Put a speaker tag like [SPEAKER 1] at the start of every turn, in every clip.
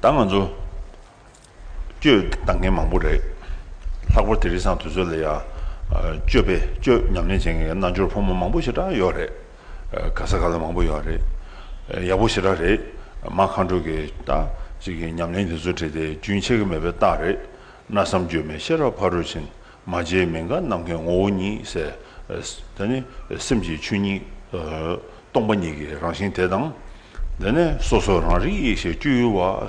[SPEAKER 1] ད་ང་ཚོ་སྤྱོད་གཏང་མཁན་མང་པོ་རེད། ལྷག་པར་དེ་རིགས་སང་དུས་ཚོད་ལ་ཡང་སྤྱོད་པས་སྤྱོད་ཉམས་ལེན་བྱེད་མཁན་གྱི་རྣལ་འབྱོར་ཕོ་མོ་མང་པོ་ཞེ་དྲག་ཡོད་རེད། ག་ས་ག་ལ་མང་པོ་ཡོད་རེད། ཡག་པོ་ཞེ་དྲག་རེད། མ་མཁའ་འགྲོ་གི་ཉམས་ལེན་དེ་ཚོ་བྲིས་ཏེ་རྒྱུན་ཆད་ཀྱི་མེད་པའི་རྟགས་རེད། གནའ་བསམ་བརྗོད་མེད་ཤེས་རབ་ཕ་རོལ་ཕྱིན། མ་བྱས་མི་འགག་ནམ་མཁའི་ངོ་བོ་ཉིད། དེ་ནི་སེམས་ཀྱི་ཆོས་ཉིད། སྟོང་པ་ཉིད་ཀྱི་རང་བཞིན་དེ་དང། དེ་ནས་སོ་སོ་རང་རིག་ཡེ་ཤེས་སྤྱོད་ཡུལ་བ།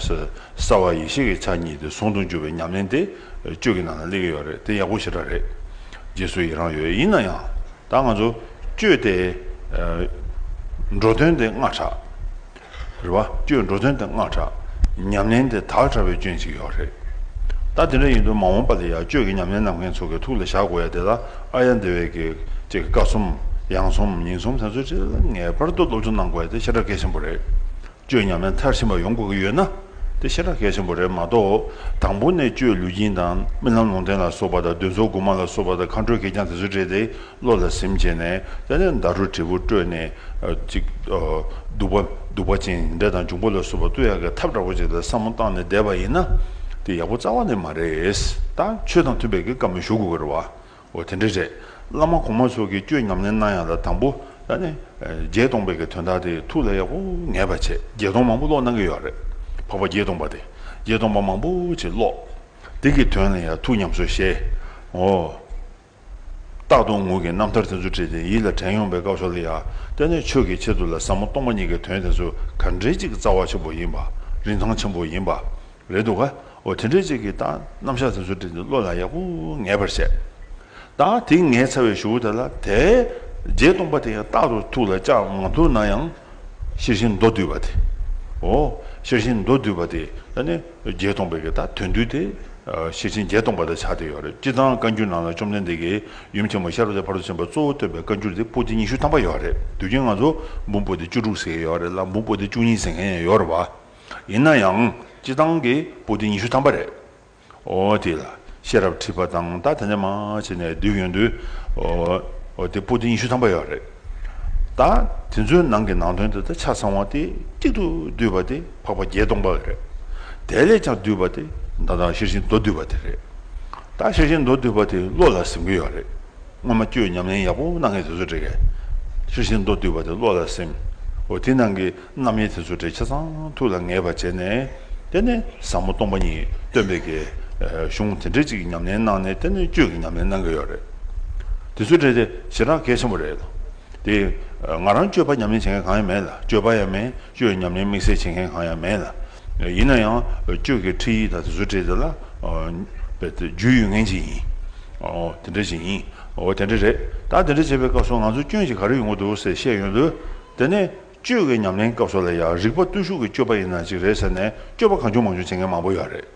[SPEAKER 1] གསལ་བ་ཡེ་ཤེས་ཀྱི་ཆ་གཉིས་དེ་ཟུང་དུ་འཇུག་པའི་ཉམས་ལེན་དེ་སྤྱོད་ཀྱི་ནང་ན་གླེང་གི་ཡོད་རེད་དེ་ཡག་པོ་ཞེ་དྲག་རེད། རྗེས་སུ་ཡི་རང་ཡོད་ཡིན་ན་ཡང་ད་ང་ཚོ་སྤྱོད་དེ་འགྲོ་དོན་དེ་སྔ་དྲགས། རེད་བ། ཅོས་འགྲོ་དོན་དེ་སྔགས་གྲགས། ཉམས་ལེན་དེ་དག་གྲགས་པའི་སྐྱོན་ཅིག་ཡོད་རེད། ད་དེ་འདྲ་ཡིན་དུས་མ་འོངས་པ་ལ་ཡང་ཅོས་ཀྱི་ཉམས་ལེན་གནང་མཁན་ཚོ་གི་ཐུགས་ལ་བཞག་དགོས་ཡ་དེ་ལ་ཨ་ཡ་འདི་བས་ཀྱི་ཅེས་ཀྱི་ཀ་གསུམ། ཡང་གསུམ་ཉིན་གསུམ་དེ་ཚོ་ཅི་ལ་ངེས་པར་དུ་སློབ་སྦྱོང་གནང་དགོས་ཡ་དེ་ཤ་ཁྲག་གལ་ཆེན་པོ་རེད། ཅོས་ཉམས་ལེན་མཐར་ཕྱིན་པ་ཡོང་དགོས་ཀྱི་ཡོད་ན་དེ་ཤ་ཁྲག་གལ་ཆེན་པོ་རེད་མ་གཏོགས་དང་པོ་ནས་ཅོས་ལུས་སྦྱིན་དང་རྨི་ལམ་ལུང་བསྟན་ལ་སོགས་པ་དང་འདུན་ཚོགས་དགུ་མ་ལ་སོགས་པ་དང་མཁའ་འགྲོའི་གད་རྒྱངས་དེ་ཚོ་སྤྲད་དེ། བློ་ལ་སེམས་བསྐྱེད་ནས་དེ་ནས་མདའ་རུ་དྲིལ་བུ་དཀྲོལ་ནས། ཅིག། བདུག་པ། བདུག་པ་ཅན་འདྲེ་དང་འབྱུང་པོ་ལ་སོགས་པ་བཏུ་ཡག་གི་ཐབས་འདྲ་བོ་ཅིག་ལ་བསམ་མོ་བཏང་ནས་བསྡད་པ་ཡིན་ན། དེ་ཡག་པོ་རྩ་བ་ནས་མ་རེད། ད་ཆོས་དང་མཐུན་པའི་གི་སྐབས་ནས་ཞུ་དགོས་ཀྱི་རེད་བ། འོ་དེ་འདྲ་རེད། བླ་མ་གོང་མ་སོགས་ཀྱིས་བསྐྱོད་ཉམས་ལེན་གནང་ཡག་ལ་དང་པོ། ད་ནི། བརྒྱད་སྟོང་པའི་གི་དོན་དག་དེ་ཐུགས་ལ་ཡག་པོ་ངེས་པར་བྱས། བརྒྱད་སྟོང་མང་པོ་ཀློག་གནང་གི་ཡོད་རེད། འཕགས་པ་བརྒྱད་སྟོང་པ་དེ། བརྒྱད་སྟོང་པ་མང་པོ་ཅིག་ཀློག། དེ་གི་དོན་ལ་ཡང་ཐུགས་ཉམས་སོ་ཤེས། འོ། རྟག་ཏུ་ངུ་གི་རྣམ་ཐར་དེ་ཚོ་བྲིས་ཏེ་ཡིད་ལ་དྲན་ཡོང་པའི་སྐབས་སོགས་ལ་ཡང་ལྟས་ནས་ཆོས་ཀྱི་ཆེད་དུ་ལ་ཟབ་མོ་སྟོང་པ་ཉིད་ཀྱི་དོན་དེ་ཚོ་ག་འདྲའི་ཅིག་རྩ་བ་ཆེན་པོ་ཡིན་པ་རིན་ཐང་ཆེན་པོ་ཡིན་པ་རེད་འདུག་ག་དེ་འདྲའི་ཅིག་གི་རྟགས་རྣམ་གཞག་དེ་ཚོ་བྲིས་ཏེ་བློ་ལ་ཡག་པོ་ངེས་པར་བྱས། ད་དེ་ངས་ཚར་བའི་ཞུ་བོ་དེ་ལ་དེ་རྗེས་སྟོང་པ་དེ་ཡང་རྟག་ཏུ་ཐུགས་ལ་བཅག་མ་ཐུབ་ན་ཡང་ཤེར་ཕྱིན་མདོ་བསྡུས་པ་དེ་འོ་ཤེར་ཕྱིན་མདོ་བསྡུས་པ་དེ་ལ་ནི། བརྒྱད་སྟོང་པའི་གེ་དང་དོན་བསྡུས་ཏེ། ཤེར་ཕྱིན་བརྒྱད་སྟོང་པ་དང་ཕྱག་དེ་ཡོད། སྤྱི་གཙང་བཀའ་འགྱུར་ནང་ལ་བཅོམ་ལྡན་འདས་ཀྱིས་ཡུམ་ཆེན་མོ་ཤར་བ་དེ་བར་དུ་ཕྱིན་པ་གཙོ་བོ་སྟོན་པའི་བཀའ་འགྱུར་དེ་པོ་ཏི་ཉི་ཤུ་ཐམ་པ་ཡོད་རེད་འདུག་རྒྱན་ང་ཚོ་འབུམ་པོ་ཏི་བཅུ་དྲུག་ཟེར་མཁན་ཡོད་རེད་ལ་འབུམ་པོ་ཏི་བཅུ་གཉིས་ཟེར་མཁན་ཡང་ཡོད་རེད་བ། ཡིན་ན་ཡང་སྤྱི་གཙང་གི་པོ་ཏི་ཉི་ཤུ་ཐམ་པ་རེད། འོ་དེ་ལ་ཤེས་རབ་ཁྲིད་པ་དང་ད་དེ་འདྲ་མ་བྱས་ནས་སྡོད་ཡོང་དུས། འོ་དེ་པོ་ཏི་ཉི་ཤུ་ཐམ་པ་ཡོད་རེད། ད་དེ་ཚོའི་ནང་གི་ནང་དོན་དེ་དག་ཆ་ཚང་བ་སྟེ་གཅིག་ཏུ་བསྡུས་པ་དེ་འཕགས་པ་བརྒྱད་སྟོང་པ་རེད། དེ་ལས་ཀྱང་བསྡུས་པ་དེ་མདའ་དང་ཤེར་ཕྱིན་མདོ་བསྡུས་པ་དེ་རེད། ད་ཤེར་ཕྱིན་མདོ་བསྡུས་པ་དེ་བློ་ལ་སིམ་གི་ཡོད་རེད། སྔོན་མ་བཅོས་ཉམས་ལེན་ཡག་པོ་གནང་མཁན་དེ་ཚོ་རེད། ཤེར་ཕྱིན་མདོ་བསྡུས་པ་དེ་བློ་ལ་སིམ། འོ་དེ་ནང་གི། རྣམ་དབྱེ་དེ་ཚོ་འབྲེལ་ཆ་ཚང་ཐུགས་ལ་ངེས་པར་བྱས་ནས་བསྟེན་ནས་ཟབ་མོ་སྟོང་པ་ཉིད་སྟོན་པའི་དགེ། གཞུང་དེ་འདྲའི་ཅིག་ཉམས་ལེན་གནང་ནས་བསྟེན་ནས་བཅོས་ཀྱི་ཉམས་ལེན་གནང་གི་ཡོད་རེད། དེ་ཚོའི་གྲས་དེ་ཞེ་དྲག་གལ་ཆེན་པོ་རེད། དེ། ང་རང་བཅོས་པ་ཉམས་ལེན་བྱེད་མཁན་གང་ཡང་མེད་ལ་བཅོས་པ་ཡང་མེད་བཅོས་ཉམས་ལེན་དམིགས་བསལ་བྱེད་མཁན་གང་ཡང་མེད་ལ། ཡིན་ན་ཡང་བཅོས་ཀྱི་ཁྲིད་ཡིག་དང་དེ་ཚོའི་གྲས་དེ་ལ། རྒྱུས་ཡོད་མཁན་ཅིག་ཡིན། དེ་འདྲ་ཞིག་ཡིན། འོ་དེ་འདྲ་རེད། ད་དེ་འདྲ་བྱེད་པའི་སྐབས་སུ་ང་ཚོ་སྐྱོན་ཅིག་ག་རེ་ཡོང་གི་འདུག་ཟེར་བཤད་ཡོང་དུས། དེ་ནི། སྤྱོད་ཀྱི་ཉམས་ལེན་སྐབས་སུ་ལ་ཡང་རིག་པ་བརྟུལ་ཞུགས་ཀྱི་སྤྱོད་པ་ཡིན་ན་ཅིག་རེད་ཟེར་ནས་སྤྱོད་པ་གང་བྱུང་མང་བྱུང་བྱེད་མཁན་མང་པོ་ཡོད་རེད།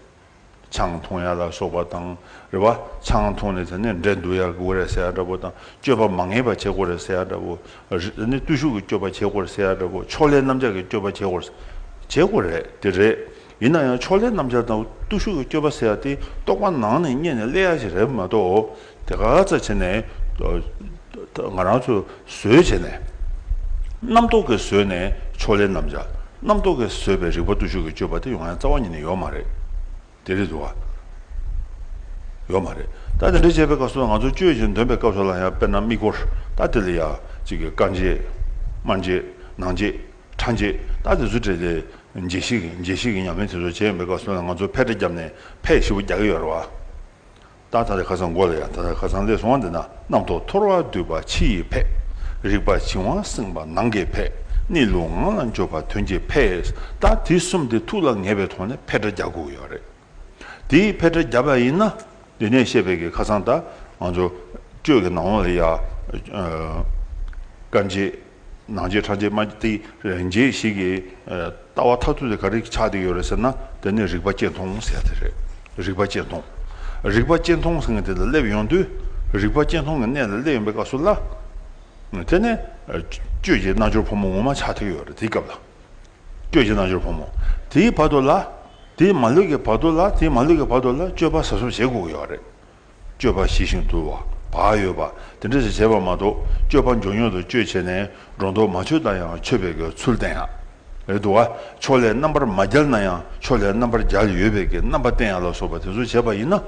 [SPEAKER 1] ཆང་འཐུང་ཡ་ལ་སོགས་པ་དང་རེད་བ། ཆང་འཐུང་ནས་དེ་ནས་འབྲས་འདུ་ཡར་དགོས་རེད་ཟེར་ཡ་འདྲ་བོ་དང་སྤྱོད་པ་མ་ངེས་པ་བྱེད་དགོས་རེད་ཟེར་ཡ་འདྲ་བོ། རིག་བརྟུལ་ཞུགས་ཀྱི་སྤྱོད་པ་བྱེད་དགོས་རེད་ཟེར་ཡ་འདྲ་བོ་ཕྱོགས་ལས་རྣམ་གཞག་གི་སྤྱོད་པ་བྱེད་དགོས་རེད། དེ་རེད། ཡིན་ན་ཡང་ཕྱོགས་ལྷའི་རྣམ་ཆར་དང་བརྟུལ་ཞུགས་ཀྱི་སྐྱོ་བ་སེལ་བ་དེ་རྟོགས་པ་ནང་ནས་རྙེད་ནས་སླེ་ཡ་ཞིག་རེད་མ་གཏོགས་དེ་ག་ག་ཚད་བྱས་ནས་ང་རང་ཚོས་བཟོས་བྱས་ནས་རྣམ་རྟོག་གིས་བཟོས་ནས་ཕྱོགས་ལྷའི་རྣམ་ཆ་རྣམ་རྟོག་གིས་བཟོས་པའི་རིག་པ་བརྟུལ་ཞུགས་ཀྱི་སྤྱོད་པ་དེ་ཡོང་ཡང་རྩ་བ་ཉིད་ནས་ཡོད་མ་རེད་དེ་རེད་འདུག་ག་ཡོད་མ་རེད་ད་དེ་འདྲ་བྱས་པའི་སྐབས་སུ་ང་ཚོ་དཔྱོད་ཅིང་འདོན་པའི་སྐབས་སུ་ལ་ཡང་དཔེར་ན་དམིགས་སྐོར་ད་དེ་ལ་ཡང་གཅིག་གི་རྐང་རྗེས་དམར་རྗེས་ནང་རྗེས་ཁྲ་འབྱེད། རྟགས་དེ་ཚོ་བྲིས་ཏེ། འབྱེད་ཤེས་ཀྱི་འབྱེད་ཤེས་ཀྱི་ཉམས་ལེན་དེ་ཚོ་བྱས་མེད་སྐབས་སུ་ང་ཚོ་ཕལ་ཆེར་རྒྱབ་ནས་ཕས་ཤི་བོ་རྒྱག་གི་ཡོད་རེད་བ། ད་ད་རེ་ཁ་སང་འགོ་ལ་ཡང་ད་ད་ཁ་སང་ལས་སོང་བ་འདི་ན་རྣམ་རྟོག་འཐོར་བ་འདུས་པ་ཕྱི་ཡི་ཕས། རིག་པ་བྱིང་བ་སེང་བ་ནང་གི་ཕས། གནས་ལུགས་ངང་ལ་འཇོག་པ་དོན་གྱི་ཕས། རྟགས་དེ་གསུམ་དེ་ཐུགས་ལ་ངེས་པའི་ཐོག་ནས་ཕས་ཁྲ་རྒྱག་དགོས་ཀྱི་ཡོད་རེད། དེ་ཕལ་ཆེར་རྒྱབ་ཡ་ཡིན་ན་འདི་ནས་བཤད་པའི་གི་ཁ་སང་ད་ང་ཚོ་སྤྱོད་གི་ནང་ལ་ཡ། སྐར་འབྱེད། ནང་འབྱེད་ཕྲག་འབྱེད་དམའ་འབྱེད་རེངས་འབྱེད་ཞིག་གི་ལྟ་བ་ཐ་ཐུ་དེ་ག་རེ་ཆགས་བསྡད་ཡོད་རེད་ཟེར་ན་དེ་ནི་རིག་པ་གཅེས་མཐོང་ཟེར་དེ་རེད། རིག་པ་གཅེས་མཐོང། རིག་པ་གཅེས་མཐོང་ཟེར་མཁན་དེ་ལ་སླེབས་ཡོང་དུས་རིག་པ་གཅེས་མཐོང་གི་གནས་ལ་སླེབས་ཡོང་པའི་སྐབས་སུ་ལ། དེ་ནས་སྤྱོད་ཀྱི་རྣལ་འབྱོར་ཕོ་མོ་ངོ་མ་ཆགས་བསྡད་ཡོད་རེད་དེའི་སྐབས་ལ། སྐྱོད་ཀྱི་རྣལ་འབྱོར་ཕོ་མོ། དེའི་བར་དོ་ལ། དེའི་མ་ལུས་ཀྱི་བར་དོ་ལ་དེའི་མ་ལུས་ཀྱི་བར་དོ་ལ་སྤྱོད་པ་ཟ་གསུམ་བྱེད་དགོས་ཀྱི་ཡོད་རེད། སྤྱོད་པ་ཞི་ཞིང་དུལ་བ། བག་ཡོད་པ། དེ་འདྲ་ཞིག་བྱེད་པ་མ་གཏོགས་སྤྱོད་པ་མགྱོགས་མགྱོགས་དུ་སྤྱོད་བྱས་ནས་སྒྲོ་འདོགས་མ་ཆོད་ན་ཡང་ཆོད་པའི་གི་ཚུལ་བསྟན་ཡག་རེད་འདུག་ག་ཕྱོགས་ལས་རྣམ་པར་མ་བརྒྱལ་ན་ཡང་ཕྱོགས་ལས་རྣམ་པར་བརྒྱལ་ཡོད་པའི་གི་རྣམ་པ་བསྟན་ཡག་ལ་སོགས་པ་དེ་ཚོ་བྱས་པ་ཡིན་ན་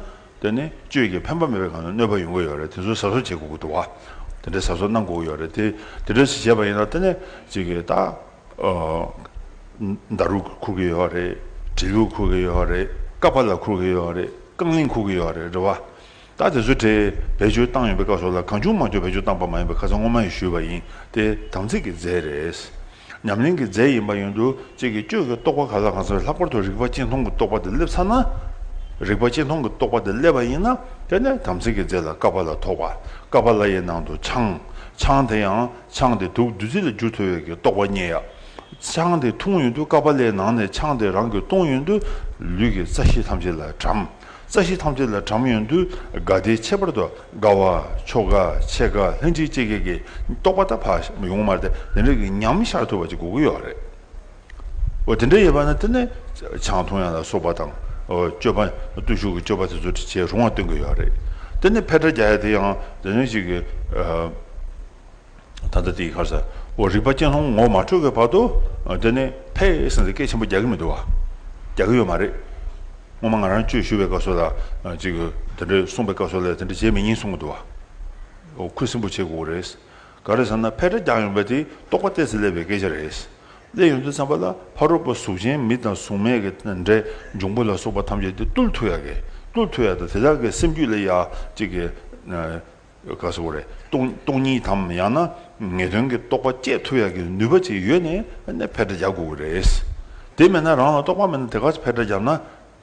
[SPEAKER 1] དེ་ནི་སྤྱོད་ཀྱི་ཕན་པ་མེད་པའི་གང་ནས་གནོད་པ་ཡོང་གི་ཡོད་རེད་དེ་ཚོ་ཟ་གསུམ་བྱེད་དགོས་ཀྱི་འདུག་ག་དེ་འདྲ་ཟ་གསུམ་གནང་དགོས་ཀྱི་ཡོད་རེད་དེ་དེ་འདྲ་ཞིག་བྱས་པ་ཡིན་ན་དེ་ནི་གཅིག་གི་ད། མདའ་རུ་འཁུར་གི་ཡོད་རེད། གྲི་གུག་འཁུར་གི་ཡོད་རེད། ཀ་བ་ལ་འཁུར་གི་ཡོད་རེད། རྐང་གླིང་འཁུར་གི་ཡོད་རེད་རེད་བ། ད་དེ་ཚོའི་གྲས་བེད་སྤྱོད་བཏང་ཡོད་པའི་སྐབས་སོགས་ལ་གང་བྱུང་མང་བྱུང་བེད་སྤྱོད་བཏང་པ་མ་ཡིན་པའི་ཁ་ཚ་ངོ་མ་ཡིས་ཞུས་པ་ཡིན་ཏེ་དམ་ཚིག་གི་རྫས་རེད། ཉམས་ལེན་གྱི་རྫས་ཡིན་པ་ཡིན་དུ་གཅིག་གིས་གཅོད་ཀྱི་རྟོག་པ་ག་ལ་གང་ཚ་བས་ལྷག་པར་དུ་རིག་པ་གཅིག་མཐོང་གི་རྟོག་པ་དེ་སླེབས་ཚར་ན། རིག་པ་གཅིག་མཐོང་གི་རྟོག་པ་དེ་སླེབས་པ་ཡིན་ན་དེ་ནས་དམ་ཚིག་གི་རྫས་ལ་ཀ་བ་ལ་ཐོགས་པ། ཀ་བ་ལ་ཡི་ནང་དུ་ཆང། ཆང་དེ་ཡང། ཆང་དེ་དུག་བདུད་རྩི་ལ་འགྱུར་ཐུབ་ཡོད་ཀྱི་རྟོགས་པ་རྙེད་ཡ། ཆང་དེ་འཐུང་ཡོང་དུས་ཀ་པཱ་ལའི་ནང་ནས་ཆང་དེ་རང་གིས་བཏུང་ཡོང་དུས་ལུས་ཀྱི་རྩ་ཤེས་ཐམས་ཅད་ལ་དྲམ། རྩ་ཤེས་ཐམས་ཅད་ལ་དྲམ་ཡོང་དུས་དགའ་བདེའི་ཁྱད་པར་དུ་དགའ་བ། ཆོ་ག། ཆེ་ག་ལྷན་ཅིག་སྐྱེས་སྐྱེས་ཀྱི་རྟོགས་པ་ད་བར་ཡོང་མ་སྟེ་དེ་འདྲ་གི་ཉམས་ཤར་ཐུབ་པ་ཅིག་དགོས་ཀྱི་ཡོད་རེད། དེ་འདྲ་ཡོད་པ་ན་དེ་ནི་ཆང་འཐུང་ཡང་ལ་སོགས་པ་དང། སྤྱོད་པ། བརྟུལ་ཞུགས་ཀྱི་སྤྱོད་པ་དེ་ཚོ་ཁྲིད་བྱེད་རུང་བ་སྟོན་གྱི་ཡོད་རེད། དེ་ནི་ཕལ་བྲག་རྒྱ་ཡ་དེ་ཡང་དེ་འདྲ་ཞིག་གི། ད་ལྟ་དེ་ཡི་ཁར་ས་འོག་རིག་པ་གཅན་ལྷུང་ངོ་མ་འཕྲོད་གི་བར་དུ། དེ་ནི་ཕལ་ཡེ་སངས་ཏེ་སྐད་ཆེན་པོ་རྒྱག་གི་མི་འདུག་བ། རྒྱག་གི་ཡོད་མ་རེད། སྔོན་མ་ང་རང་ཆོས་ཞུ་བའི་སྐབས་སུ་ལ་ཅིག་དེ་འདྲ་གསུངས་པའི་སྐབས་སུ་ལ་དེ་འདྲ་བྱེད་མི་ཉན་གསུངས་གི་འདུག་བ། ཁུ་སིམ་པོ་བྱེད་དགོས་རེད། ག་རེ་ཟེར་ན་ཕལ་ཆེར་རྒྱང་ཡོང་པའི་དེ་རྟོགས་པ་སྟེ་ཟིལ་ལེ་བའི་སྐད་ཆ་རེད། ལེ་ཡོན་དུ་བསམ་པ་ལ་ཕ་རོལ་པོ་གཟུགས་ཅན་མི་དང་གཟུགས་མེད་ཀྱི་འབྲས་འབྱུང་པོ་ལ་སོགས་པ་ཐམས་ཅད་དེ་རྟུལ་མཐུ་ཡ་གི་རྟུལ་མཐུ་ཡ་དང་དེ་དག་གི་སེམས་རྒྱུད་ལས་ཡ་གཅིག་གི། ག་ཟེར་བ་རེད། སྟོང་ཉིད་དམ་ཡང་ན་ངེས་དོན་གྱི་རྟོགས་པ་བསྐྱེད་མཐུ་ཡ་གི་ནུས་པ་ཅིག་ཡོད་ནས་ཕལ་ཆེར་རྒྱག་དགོས་ཀྱི་རེད། དེ་མེད་ན་རང་ལ་རྟོགས་པ་མེད་ན་དེ་ག་ཚོད་ཕལ་ཆེར་རྒྱབ་ན་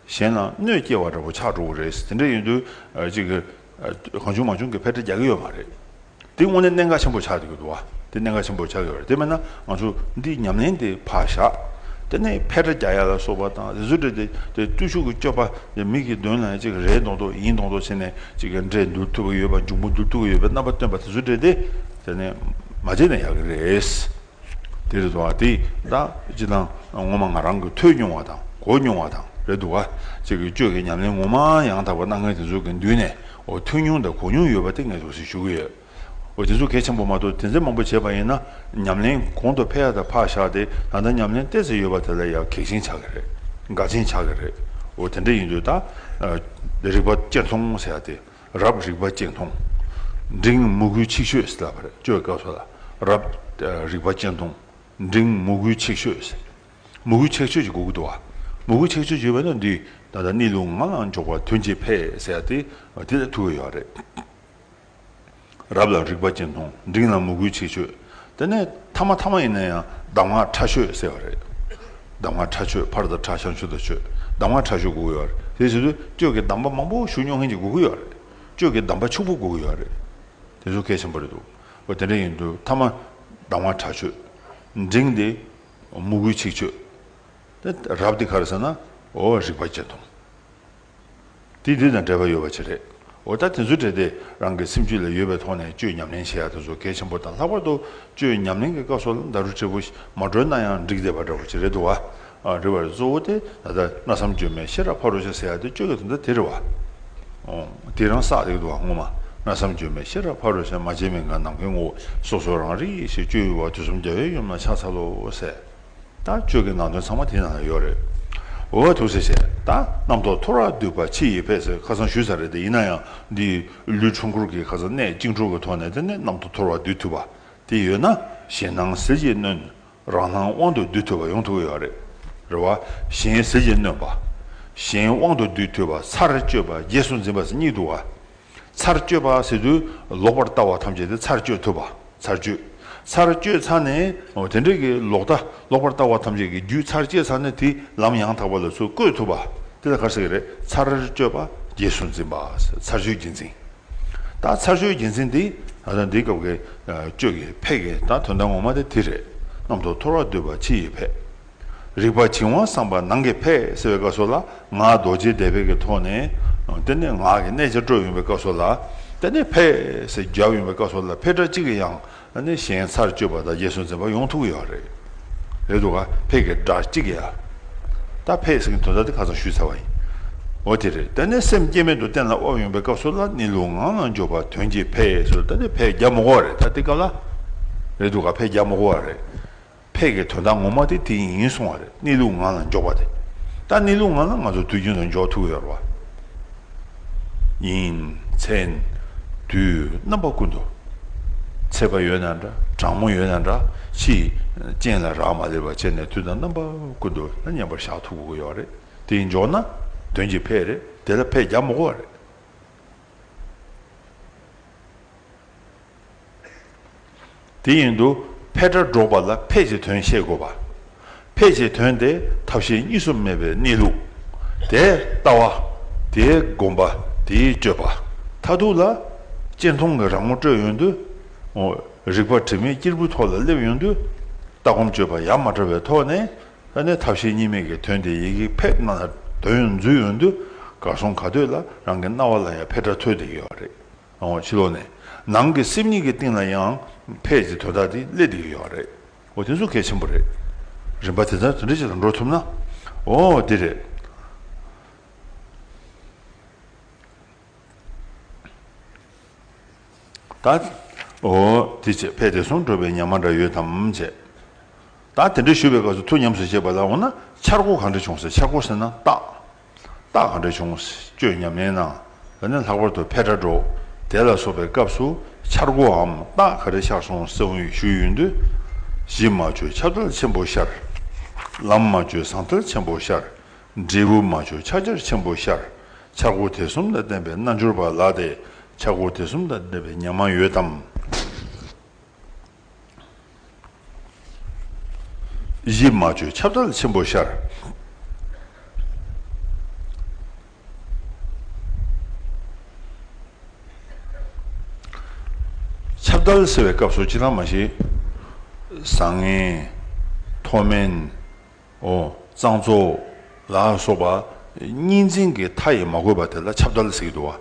[SPEAKER 1] གཞན་ལ་གནོད་སྐྱེལ་བ་འདྲ་བོ་ཆགས་འགྲོ་གི་རེད། དེ་འདྲ་ཡིན་དུས་གཅིག་གང་བྱུང་མ་བྱུང་གི་ཕལ་ཆེར་རྒྱག་གི་ཡོད་མ་རེད། དེ་དངོས་གནས་གནད་འགག་ཆེན་པོ་ཆགས་འདུག་གི་འདུག་བ། དེ་གནད་འགག་ཆེན་པོ་ཆགས་ཀྱི་ཡོད་རེད་དེ་མེད་ན་ང་ཚོ་འདིའི་ཉམས་ལེན་དེ་ཕར་བཞག་དེ་ནས་ཕལ་ཆེར་རྒྱག་ཡ་ལ་སོགས་པ་དང་རེ་ཟུར་འདྲེ་དེ་བརྟུལ་ཞུགས་ཀྱི་སྤྱོད་པ་དེ་མིག་གི་མདུན་ན་གཅིག་རེད་མདོག་མདོག་ཡིན་མདོག་མདོག་བྱས་ནས་གཅིག་འདྲེ་འདུལ་ཐུབ་ཀྱི་ཡོད་པ་འབྱུང་པོ་འདུལ་ཐུབ་ཀྱི་ཡོད་པའི་རྣམ་པ་སྟོན་པ་དེ་ཚོ་འདྲེ་དེ་དེ་ནས་མ་བྱས་ན་ཡག་གི་རེད། དེ་རེད་དོ། དེ་ད་ཅི་དང་ངོ་མ་ང་རང་གི་ཐོས་མྱོང་བ་དང་གོ་མྱོང་བ་དང་རེད་འདུག་ག་ཅིག་གིས་གཅོད་ཀྱི་ཉམས་ལེན་ངོ་མ་ཡང་དག་པ་གནང་མཁན་དེ་ཚོ་གི་མདུན་ནས་འོ་ཐོས་མྱོང་དང་གོ་མྱོང་ཡོད་པ་དེ་ངས་དོགས་ཟིན་ཞུ་གི་ཡོད། འོ་དེ་ཚོ་གལ་ཆེན་པོ་མ་གཏོགས་དེ་འཛིན་མང་པོ་བྱས་པ་ཡིན་ན་ཉམས་ལེན་གོང་དུ་འཕེལ་ཡག་དང་འཕགས་ཤག་དེ་ད་ལྟ་ཉམས་ལེན་སྟེར་ཟིན་ཡོད་པ་དེ་ལ་ཡང་གེགས་ཆེན་ཆགས་ཀྱི་རེད་དགག་ཆེན་ཆགས་ཀྱི་རེད་འོ་དེ་འདྲ་ཡིན་དུས་ད་རིག་པ་དཔྱད་མཚོང་ཟེར་ཡག་དེ། རབ་རིག་པ་སྤྱན་མཐོང། འབྲིང་མུ་གུའི་ཆིག་ཤོས་ལ་བར་གཅོད་སྐབས་སོགས་ལ་རབ་རིག་པ་སྤྱན་མཐོང། འབྲིང་མུ་གུའི་ཆིག་ཤོས། མུ་གུའི་ཆིག་ཤོས་ཀྱི་གུ་གུ་དུ་བ། མུ་གུའི་ཆིག་ཤོས་ཀྱི་བས་ན་འདི་ད་ལྟ་གནས་ལུགས་ངག་ལ་འཇོག་པར་དོན་གྱིས་འཕེལ་ཟེར་ཏེ་དེ་ལ་ཐུག་ཡོད་རེད། རབ་ལ་རིག་པ་སྤྱན་མཐོང་འབྲིང་ལ་མུ་གུའི་ཆིག་ཤོས། དེ་ནས་ཐ་མ་ཐ་མ་ཡིན་ན་ཡང་གདམས་ངག་ཁྲ་ཆོས་ཟེར་བ་རེད། གདམས་ངག་ཁྲ་ཆོས་ཕར་དང་ཁྲ་བྱང་ཆུབ་དང་ཆོས་གདམས་ངག་ཁྲ་ཆོས་གོ་གི་ཡོད་རེད། དེའི་ཕྱིར་དུ་ཁྱོད་ཀྱིས་གདམས་པ་མང་པོ་ཞུ་མྱོང་མཁན་གྱི་གོ་གི་ཡོད་རེད། ཁྱོད་ཀྱིས་གདམས་པ་ཕྱུག་པོ་གོ་གི་ཡོད་རེད། དེ་ཚོ་གལ་ཆེན་པོ་རེད་འདུག་འོ་དེ་འདྲ་ཡིན་དུས་ཐ་མ་གདམས་ངག་ཁྲ་ཆོས་འབྲིང་དེ་མུ་གུའི་ཚིག་ཆོས་དེ་རབ་དེ་ག་རེད་ཟེར་ན་འོ་རིག་པ་སྤྱན་སྟོང། དེ་དེ་དང་འབྲེལ་བ་ཡོད་པ་ཅི་རེད། འོ་ད་དེ་ཚོ་བྲལ་ཏེ་རང་གི་སེམས་རྒྱུད་ལ་ཡོད་པའི་ཐོག་ནས་བཅོས་ཉམས་ལེན་བྱེད་ཡག་དེ་ཚོ་གལ་ཆེན་པོ་དང་ལྷག་པར་དུ་བཅོས་ཉམས་ལེན་གྱི་སྐབས་སོགས་ལ་མདའ་རུ་དྲིལ་བུ་མ་བཀྲོལ་ན་ཡང་འགྲིག་བསྡད་པ་འདྲ་བོ་ཅི་རེད་འདུག་བ། རེ་བ་རེད་གཙོ་བོ་དེ་ད་ལྟ་གནའ་བསམ་བཅོས་མའི་ཤེས་རབ་ཕ་རོལ་ཕྱིར་ཟེར་ཡག་དེ་བཅོས་ཀྱི་དོན་དག་དེ་རེད་བ། དེ་རང་བསགས་རེག་འདུག་བ་སྔོན་མ་གནའ་བསམ་བཅོས་མའི་ཤེས་རབ་ཕ་རོལ་ཕྱིར་མ་བྱས་མིན་གང་ནམ་མཁའི་ངོ་བོ་སོ་སོ་རང་རིག་ཞེས་བཅོས་ཡུལ་བ་དུས་གསུམ་རྒྱལ་བའི་ཡུམ་ལ་ཕྱག་འཚལ་ལོ་ཟེར། ད་ཆོས་ཀྱི་ནང་དོན་ཚང་མ་དེའི་ནང་ན་ཡོད་རེད། འོ་ཐུགས་བསེ་བྱས་ད་རྣམ་རྟོག་ཐོ་ར་སྡུད་པ་ཕྱི་ཡི་ཕས་ཟེར་ཁ་སང་ཞུས་ས་རེད་དེ་ཡིན་ན་ཡང་འདི་ལུས་འཁྲུངས་འཁོར་གྱི་ཁ་ས་གནས་གཅིག་འཁྲུངས་པའི་ཐོག་ནས་དེ་ནས་རྣམ་རྟོག་ཐོ་ར་སྡུད་ཐུབ་པ་དེ་ཡོད་ན་གཞན་སྣང་གཟི་བརྗིད་སྣོན་རང་སྣང་དབང་དུ་སྡུད་ཐུབ་པ་ཡོང་ཐུག་ཡོད་རེད། རེ་བ། གཞན་གཟི་བརྗིད་སྣོན་པ། གཞན་དབང་དུ་སྡུད་ཐུབ་པ་ཚར་གཅོད་པ་རྗེས་སུ་འཛིན་པ་ཟེར་གཉིས་འདུག་ག། ཚར་གཅོད་པ་ཟེར་དུས་ལོག་པར་ལྟ་བ་ཐམས་ཅད་དེ་ཚར་གཅོད་ཐུབ་པ་ཚར་གཅོད། ཚར་གཅོད་ཚར་ནས་དེ་འདྲ་གི་ལོག་ལྟ་ལོག་པར་ལྟ་བ་ཐམས་ཅད་ཀྱི་རྒྱུད་ཚར་བཅད་ཚར་ནས་དེ་ལམ་ཡང་དག་པ་ལ་ཚུར་བཀོད་ཐུབ་པ་དེ་ལ་གར་ཟེར་གྱི་རེད་ཚར་གཅོད་པ་རྗེས་སུ་འཛིན་པ་ཚར་གཅོད་རྗེས་འཛིན། ད་ཚར་གཅོད་རྗེས་འཛིན་དེ་ད་འདི་སྐབས་ཀྱི་གཅོད་ཀྱི་ཕས་ཀྱི་ད་དོན་དངོས་མ་དེ་དེ་རེད། གནམ་ཐོག་འཐོར་བ་སྡོད་པ་ཕྱི་ཡི་ཕས། རིག་པ་བྱིང་བ་སངས་པ་ནང་གི་ཕས་ཟེར་བའི་སྐབས་སོགས་ལ་ངག་རྡོ་རྗེའི་བཟླས་བརྗོད་ཀྱི་ཐོག་ནས་དེ་ནས་ངག་གི་གནད་ཆ་སྤྲོ་ཡོང་བའི་སྐབས་སོགས་ལ་དེ་ནས་ཕས་ཟེར་རྒྱབ་ཡོང་བའི་སྐབས་སོགས་ལ་ཕས་སྒྲ་གཅིག་གིས་ཡང་ནི་གཞན་ཚར་གཅོད་པ་དང་རྗེས་སུ་འཛིན་པ་ཡོང་ཐུབ་ཀྱི་ཡོད་རེད། རེད་འདུག་ག་ཕས་ཀྱི་སྒྲ་གཅིག་གིས་ཡང་དག་ཕས་ཟེར་གྱི་དོན་དག་དེ་ཁ་ཚང་ཞུས་ཚར་བ་ཡིན། འོ་དེ་རེད་དེ་ནས་སེམས་སྐྱེ་མེད་དུ་གཏན་ལ་དབབ་ཡོང་བའི་སྐབས་སོགས་ལ་ནི་ལུས་ངག་ནང་འཇོག་པ་དོན་གྱིས་ཕས་ཟེར་དེ་ནས་ཕས་རྒྱབ་མོ་བ་རེད་ད་དེ་སྐབས་ལ། རེད་འདུག་ག་ཕས་རྒྱབ་མོ་བ་རེད། ཕས་ཀྱི་དོན་དག་ངོ་མ་དེ་དེ་ཡིན་གསུང་བ་རེད་གནས་ལུགས་ངང་ལ་འཇོག་པ་དེ། ད་གནས་ལུགས་ངང་ལ་ང་ཚོ་དུས་རྒྱུན་དུ་འཇོག་ཐུབ་ཡོད་རེད། ཡིན། མཚན། དུས། རྣམ་པ་ཀུན་དུ། ཚད་པ་ཡོད་ན་འདྲ་གྲང་མོ་ཡོད་ན་འདྲ་ཕྱིས། སྤྱན་ལ་རག་མ་ལེགས་པ་བྱས་ནས་དུས་དང་རྣམ་པ་ཀུན་དུ་ལ་མཉམ་པར་བཞག་ཐུབ་དགོས་ཀྱི་ཡོད་རེད་དེ་འཇོག་ན། དོན་གྱི་ཕས་རེད་དེ་ལ་ཕས་རྒྱག་མི་དགོས་པ་རེད། དེ་བཞིན་དུ་འཕེལ་སྒྲ་སྒྲོགས་པ་ལ་འཕེལ་བྱེད་དོན་ཤེས་དགོས་པ། འཕེལ་བྱེད་དོན་དེ་ཐབས་ཤེས་གཉིས་སུ་མེད་པའི་གནས་ལུགས། དེའི་ལྟ་བ། དེའི་སྒོམ་པ། དེའི་སྤྱོད་པ། མཐའ་ཐུག་ལ། གཅེན་མཐོང་གི་རང་ངོ་སྤྲོད་ཡོང་དུས། རིག་པ་དྲི་མེད་སྐྱེར་བུའི་ཐོག་ལ་སླེབས་ཡོང་དུས། ལྟ་སྒོམ་སྤྱོད་པ་ཡ་མ་བྲལ་བའི་ཐོག་ནས། ཐབས་ཤེས་གཉིས་མེད་ཀྱི་དོན་དེ་ཡི་གེ་ཕེབས་སྣ་ལ་དོན་འཛུད་ཡོང་དུས། གར་སོང་ག་དུས་ལ་རང་གི་རྣ་བ་ལ་ཡང་འཕེལ་སྒྲ་ཐོས་བསྡད་ཡོད་པ་རེད། ལོང་བ་ཕྱི་ལོག་ནས་ནང་གི་སེམས་ཉིད་ཀྱི་སྟེང་ལ་ཡང་ཕལ་ཆེར་དོ་བདག་དེ་སླེབས་བསྡད་ཀྱི་ཡོད་པ་རེད། འོ་དེ་ཚོ་གལ་ཆེན་པོ་རེད། རིམ་པ་དེ་ལྟར་དེ་འདྲ་ཅིག་ལ་འགྲོ་ཐུབ་ན། འོ་འདི་རེད། ད། འོ་དེ་བྱས་ཕལ་དེ་སོང་འགྲོ་བའི་ཉག་མ་འདྲ་ཡོད་དམ་བྱས། ད་དེ་འདྲ་ཞུ་བའི་སྐབས་སུ་ཐུགས་ཉམས་སུ་བཅད་པ་ལ་འོ་ན་འཆར་སྒོ་གང་འདྲ་བྱུང་ཟེར་འཆར་སྒོ་ཟེར་ན་རྟགས། རྟགས་གང་འདྲ་བྱུང་བཅོས་ཉམས་ལེན་ན། འོ་ན་ལྷག་པར་དུ་འཕེལ་སྒྲ་སྒྲོག་བདེ་ལ་སོགས་པའི་སྐབས་སུ་འཆར་སྒོའམ་རྟགས་ག་རེ་ཤར་སོང་གསལ་བོ་ཞུ་ཡོད་དུས། གཞི་མ་བཅོས་ཁྱབ་བདལ་ཆེན་པོ་ཤར། ལམ་མ་བཅོས་ཟང་ཐལ་ཆེན་པོ་ཤར། འབྲས་བུ་མ་བཅོས་ཆགས་འཆར་ཆེན་པོ་ཤར། འཆར་སྒོ་དེ་གསུམ་དང་ལྡན་པའི་རྣལ་འབྱོར་པ་ལ་དེ་འཆར་སྒོ་དེ་གསུམ་དང་ལྡན་པའི་ཉམས་མ་ཡོད་དམ། གཞི་སྨྲ་བརྗོད་ཁྱབ་བདག་ཆེན་པོ་ཤར། ཁྱབ་བདག་ཟེར་བའི་སྐབས་སུ་ཅི་ལ་མ་ཞིག། བཟང་ངན། མཐོ་དམན། འོ། གཙང་བཙོག། ལ་སོགས་པ། གཉིས་འཛིན་གྱི་མཐའ་ཡིས་མ་གོས་པ་དེ་ལ་ཁྱབ་བདག་ཟེར་གྱི་འདུག་བ།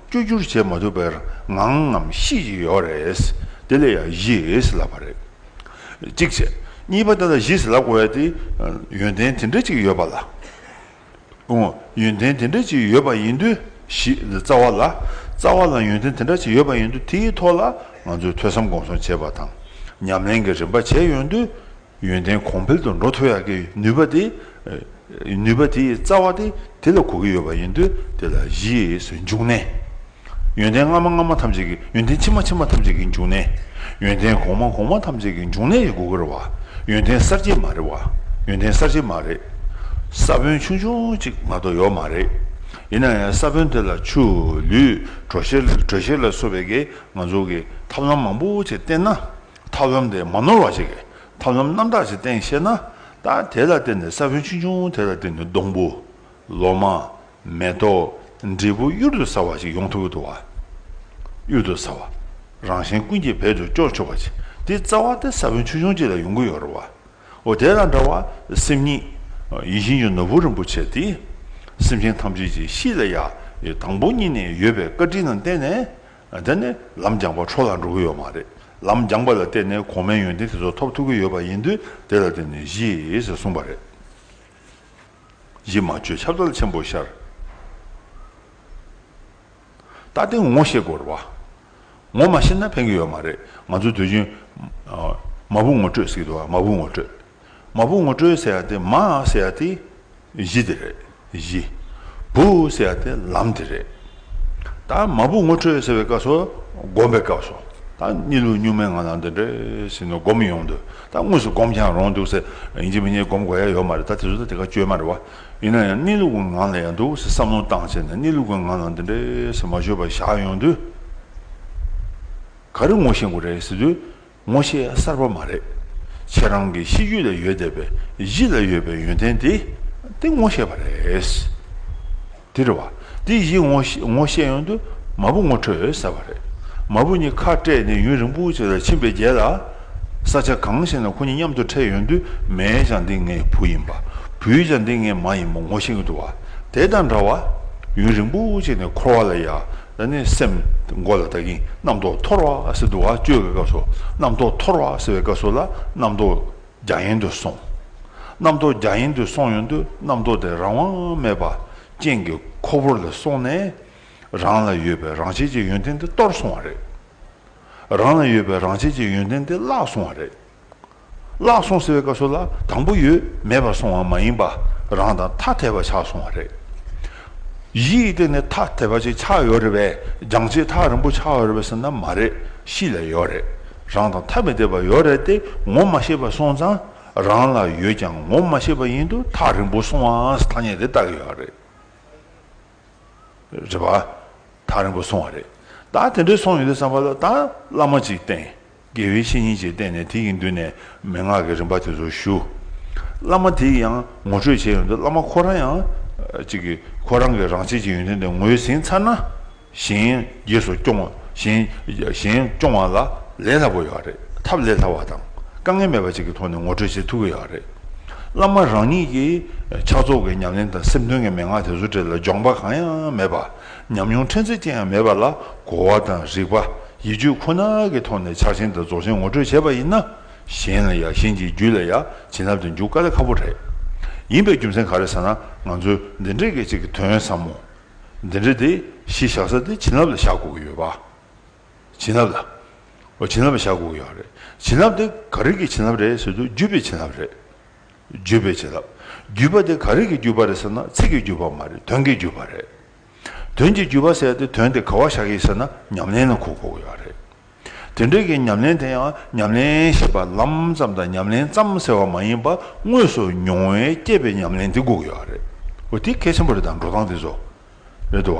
[SPEAKER 1] བཅོས་བསྒྱུར་བྱེད་མ་ཐུབ་པའི་ངང་ངམ་ཤེས་ཀྱི་ཡོད་རེད། དེ་ལས་ཡང་གཞིས་ལབ་པ་རེད། གཅིག་བྱས། གཉིས་པ་འདི་ལ་གཞིས་ལབ་དགོས་པའི་དེ་ཡོན་ཏན་དེ་འདྲ་ཅིག་ཡོད་པ་ལ། ཨོ། ཡོན་ཏན་དེ་འདྲ་ཅིག་ཡོད་པ་ཡིན་དུས་གཞིས་ལ་རྩ་བ་ལ། རྩ་བ་ལ་ཡོན་ཏན་དེ་འདྲ་ཅིག་ཡོད་པ་ཡིན་དུས་དེའི་ཐོག་ལ་ང་ཚོས་ཐོས་བསམ་སྒོམ་གསུམ་བྱས་པ་དང། ཉམས་ལེན་གྱི་རིམ་པ་བྱས་ཡོད་དུས་ཡོན་ཏན་གོང་འཕེལ་དུ་འགྲོ་ཐུབ་ཡག་གི་ནུས་པ་དེ། ནུས་པ་དེའི་རྩ་བ་དེ་དེ་ལ་གོ་གི་ཡོད་པ་ཡིན་དུས་དེ་ལ་གཞིའི་སུ་འཇུག་གནས། ཡོན་ཏན་སྔ་མ་སྔ་མ་ཐམས་ཅད་ཀྱི་ཡོན་ཏན་ཕྱི་མ་ཕྱི་མ་ཐམས་ཅད་ཀྱི་འཇུག་གནས། ཡོན་ཏན་གོང་མ་གོང་མ་ཐམས་ཅད་ཀྱི་འཇུག་གནས་ཡིན་གོ་གི་རེད་བ། ཡོན་ཏན་གསར་བརྗེ་མ་རེད་བ། ཡོན་ཏན་གསར་བརྗེ་མ་རེད། ས་བོན་ཆུང་ཆུང་གཅིག་ང་དོ་ཡོག་མ་རེད། ཡིན་ན་ཡང་ས་བོན་དེ་ལ་ཆུ། ལུད། དྲོ་གཤེར་དྲོད་གཤེར་ལ་སོགས་པའི་གི་ང་ཚོ་གི་ཐབས་ལམ་མང་པོ་ཆེ་བསྟེན་ན། ཐབས་ལམ་དེ་མ་ནོར་བ་ཞིག་གིས་ཐབས་ལམ་རྣམ་དག་ཅིག་བསྟན་ཤེས་ན། ད་དེ་ལ་བརྟེན་ནས་ས་བོན་ཆུང་ཆུང་དེ་ལ་བརྟེན་ནས་སྡོང་བུ། ལོ་མ། མེ་ཏོག། འབྲས་བུ་གཡུར་དུ་ཟ་བ་ཞིག་ཡོང་ཐུབ་ཀྱི་འདུག་བ། གཡུར་དུ་ཟ་བ། རང་གཞན་ཀུན་གྱིས་བེད་དུ་སྐྱོར་ཆོག་པ་ཞིག་དེའི་རྩ་བ་དེ་ས་བོན་ཆུང་ཆུང་ཅིག་ལ་ཡོང་གི་ཡོད་རེད་བ། འོ་དེ་དང་འདྲ་བར་སེམས་ཉིད། ཡིད་བཞིན་གྱི་ནོར་བུ་རིན་པོ་ཆེ་དེ། སེམས་ཅན་ཐམས་ཅད་ཀྱི་གཤིས་ལ་ཡ། དང་པོ་གཉིས་ནས་ཡོད་པའི་བཀའ་དྲིན་ལ་བརྟེན་ནས། དེ་ནི་ལམ་རྒྱངས་པ་འཕྲོ་ལ་འགྲོ་གི་ཡོད་མ་རེད། ལམ་རྒྱངས་པ་ལ་བརྟེན་ནས་གོང་མའི་ཡོན་ཏན་དེ་ཚོ་ཐོབ་ཐུབ་ཀྱི་ཡོད་པ་ཡིན་དུས་དེ་ལ་བརྟེན་ནས་གཞིས་ཞེས་གསུངས་པ་རེད། གཞི་མ་བཅོས་ཁྱབ་བདག་ཆེན་པོ་ཤར། ད་ལྟའི་ངོ་ཤེས་དགོས་རེད་བ། ངོ་མ་ཤེས་ན་ཕན་གྱི་ཡོད་མ་རེད། ང་ཚོའི་དུས་ཆེན། མ་བུ་ངོ་སྤྲོད་ཟེར་གི་འདུག་བ་མ་བུ་ངོ་སྤྲོད། མ་བུ་ངོ་སྤྲོད་ཟེར་ཏེ་མ་ཟེར་ཏེ་གཞི་དེ་རེད་གཞི། བུ་ཟེར་ཏེ་ལམ་དེ་རེད། ད་མ་བུ་ངོ་སྤྲོད་ཟེར་བའི་སྐབས་སུ་སྒོམ་པའི་སྐབས་སུ་ད་གཉིད་ལུག་སྨྱུག་མའི་ངང་ལམ་དེ་འདྲེ་ཟིན་ནོ་སྒོམ་ཡོང་དུས་ད་དངོས་སུ་སྒོམ་ཀྱང་རུང་འདུག་ཟེར་ཡིན་གཅིག་མིན་གཉིས་སྒོམ་དགོས་ཡ་ཡོད་མ་རེད་ད་དེ་ཚོ་ད་དེ་ག་བཅོས་མ་རེད་བ། ཡིན་ན་ཡང་གཉིད་ལུག་གི་ངང་ལ་ཡང་འདུག་ཟེར་བསམ་བློ་བཏང་བྱས་ནས་གཉིད་ལུག་གི་ངང་ལམ་དེ་འདྲེ་ཟེར་མ་བཅོས་པར་བཞག་ཡོང་དུས། ག་རེ་ངོ་ཤེས་དགོས་རེད་ཟེར་དུས་ངོ་ཤེས་གསར་པ་མ་རེད། ཁྱེད་རང་གི་གཤིས་རྒྱུད་ལ་ཡོད་བསྡད་པའི་གཞི་ལ་ཡོད་པའི་ཡོན་ཏན་དེ་དེ་ངོ་ཤེས་པ་རེད། དེ་རེད་བ། དེ་གཞི་ངོ་ཤེས་ཡོང་དུས་མ་བུ་ངོ་འཕྲོད་ཟེར་བ་རེད། མ་བུ་གཉིས་ཁ་བྲལ་ནས་ཡུན་རིང་པོ་ཞིག་ལ་ཕྱིན་པའི་རྗེས་ལ། ས་ཆ་གང་ཞིག་ན་ཁོ་གཉིས་མཉམ་དུ་འཕྲད་ཡོང་དུས་མའི་ཆ་འདི་ངའི་བུ་ཡིན་པ། བུའི་ཆ་འདི་ངའི་མ་ཡིན་པ་ངོ་ཤེས་ཀྱི་འདུག་བ། དེ་དང་འདྲ་བར། ཡུན་རིང་པོ་ཞིག་ནས་འཁོར་བ་ལ་ཡ་ན་ནི་སེམས་མགོ་ལ་བརྟག་གིན་རྣམ་རྟོག་འཐོར་བ་ཟེར་འདུག་བ་ཅོའི་སྐབས་སུ་རྣམ་རྟོག་འཐོར་བ་ཟེར་བའི་སྐབས་སུ་ལ་རྣམ་རྟོག་རྒྱ་ཡན་དུ་སོང། རྣམ་རྟོག་རྒྱ་ཡན་དུ་སོང་ཡོང་དུས་རྣམ་རྟོག་དེ་རང་དབང་མེད་པ་ཅན་གྱི་ཁོ་བོར་ལ་སོང་ནས། རང་ལ་ཡོད་པའི་རང་བྱེད་ཀྱི་ཡོན་ཏན་དེ་སྟོར་སོང་བ་རེད། རང་ལ་ཡོད་པའི་རང་བྱེད་ཀྱི་ཡོན་ཏན་དེ་བརླག་སོང་བ་རེད། བརླག་སོང་ཟེར་བའི་སྐབས་སུ་ལ་དང་པོ་ཡོད་མེད་པར་སོང་བ་མ་ཡིན་པ་རང་དང་ཐ་དད་པ་ཆགས་སོང་བ་རེད། གཞི་ཡི་སྟེང་ནས་ཐ་དད་པ་ཅིག་ཆགས་ཡོད་རེད་པས་སྦྱང་བྱེད་ཐག་རིང་པོ་ཆགས་ཡོད་རེད་པ་ཟེར་ན་མ་རེད་གཤིས་ལ་ཡོད་རེད་རང་དང་ཐ་མི་དད་པ་ཡོད་རེད་དེ་ངོ་མ་ཤེས་པར་སོང་ཙང་རང་ལ་ཡོད་ཀྱང་ངོ་མ་ཤེས་པ་ཡིན་དུ་ཐག་རིང་པོ་སོང་བའང་ཐ་སྙད་དེ་བཏགས་ཡོད་རེད། རེད་པ། ཐག་རིང་པོ་སོང་བ་རེད། ད་དེ་འདྲས་སོང་ཡོད་དུས་བསམ་པ་ལ་ད་བླ་མ་ཅིག་བསྟེན། དགེ་བའི་བཤེས་གཉེན་ཅིག་བསྟེན་ནས་དེ་ཡི་མདུན་ནས་མན་ངག་གི་རིམ་པ་དེ་ཚོ་ཞུ། བླ་མ་དེ་ཡིས་ཡང་ངོ་སྤྲོད་བྱས་ཡོང་དུས་བླ་མ་ཁོ་རང་ཡང། ཅིག་གིས་ཁོ་རང་གིས་རང་བྱེད་ཀྱི་ཡོན་ཏན་དེ་ངོས་ཟིན་ཚར་ན། གཞན། རྗེས་སུ་སྐྱོང་བ། གཞན་སྐྱོང་བ་ལ་ལས་སླ་པོ་ཡོད་རེད། ཐབས་ལས་སླ་བ་དང་དཀའ་ངལ་མེད་པ་བཅས་ཀྱི་ཐོག་ནས་ངོ་སྤྲོད་བྱེད་ཐུབ་ཀྱི་ཡོད་རེད། བླ་མ་རང་ཉིད་ཀྱིས་ཕྱག་རྫོགས་ཀྱི་ཉམས་ལེན་དང་སེམས་དོན་གྱི་མན་ངག་དེ་ཚོ་བྲིས་ལ་སྦྱོང་པ་གང་ཡང་མེད་པ། ཉམས་མྱོང་ཕྲན་ཚེགས་ཅན་ཡང་མེད་པ་ལ་གོ་བ་དང་རིག་པ། ཡིད་དཔྱོད་ཁོ་ན་གྱི་ཐོག་ནས་ཕྱག་ཆེན་དང་རྫོགས་ཆེན་ངོ་སྤྲོད་བྱས་པ་ཡིན་ན། གཞན་ལ་ཡང་གཞན་གྱི་རྒྱུད་ལ་ཡང་བྱིན་རླབས་དེ་འཇུག་དཀའ་ལས་ཁག་པོ་རེད། ཡིན་པའི་རྒྱུ་མཚན་ག་རེ་ཟེར་ན་ང་ཚོས་འདི་འདྲའི་སྐད་ཅིག་གི་དོན་ཟབ་མོ། འདི་འདྲ་སྟེ། གཞི་བཞག་ས་སྟེ་བྱིན་རླབས་ལ་བཞག་དགོས་ཀྱི་ཡོད་པ། བྱིན་རླབས་ལ། བྱིན་རླབས་ལ་བཞག་དགོས་ཀྱི་ཡོད་པ་རེད། བྱིན་རླབས་དེ་ག་རིགས་ཀྱི་བྱིན་རླབས་རེད་ཟེར་དུས་བརྒྱུད་པའི་བྱིན་རླབས་རེད། བརྒྱུད་པའི་བྱིན་རླབས། བརྒྱུད་པ་དེ་ག་རིགས་ཀྱི་བརྒྱུད་པ་རེད་ཟེར་ན་ཚིག་གི་བརྒྱུད་པ་མ་རེད་དོན་གྱི་བརྒྱུད་པ་རེད། དོན་གྱི་བརྒྱུད་པ་ཟེར་ཏེ་དོན་དེ་ག་བ་བཞག་ཡིན་ཟེར་ན་ཉམས་ལེན་ལ་གོ་དགོས་ཀྱི་ཡོད་རེད། དེ་འབྲེལ་གྱི་ཉམས་ལེན་དེ་ཡང་ཉམས་ལེན་ཞེས་པ་ལམ་ཙམ་དང་ཉམས་ལེན་ཙམ་ཟེར་བ་མ་ཡིན་པར་དངོས་སུ་མྱོང་བས་སྐྱེས་པའི་ཉམས་ལེན་དེ་འགུགས་ཡོད་པ་རེད། འོ་དེ་གལ་ཆེན་པོ་རེད་དམ་འགྲོ་སྟངས་དེ་ཚོ། རེད་འདུག་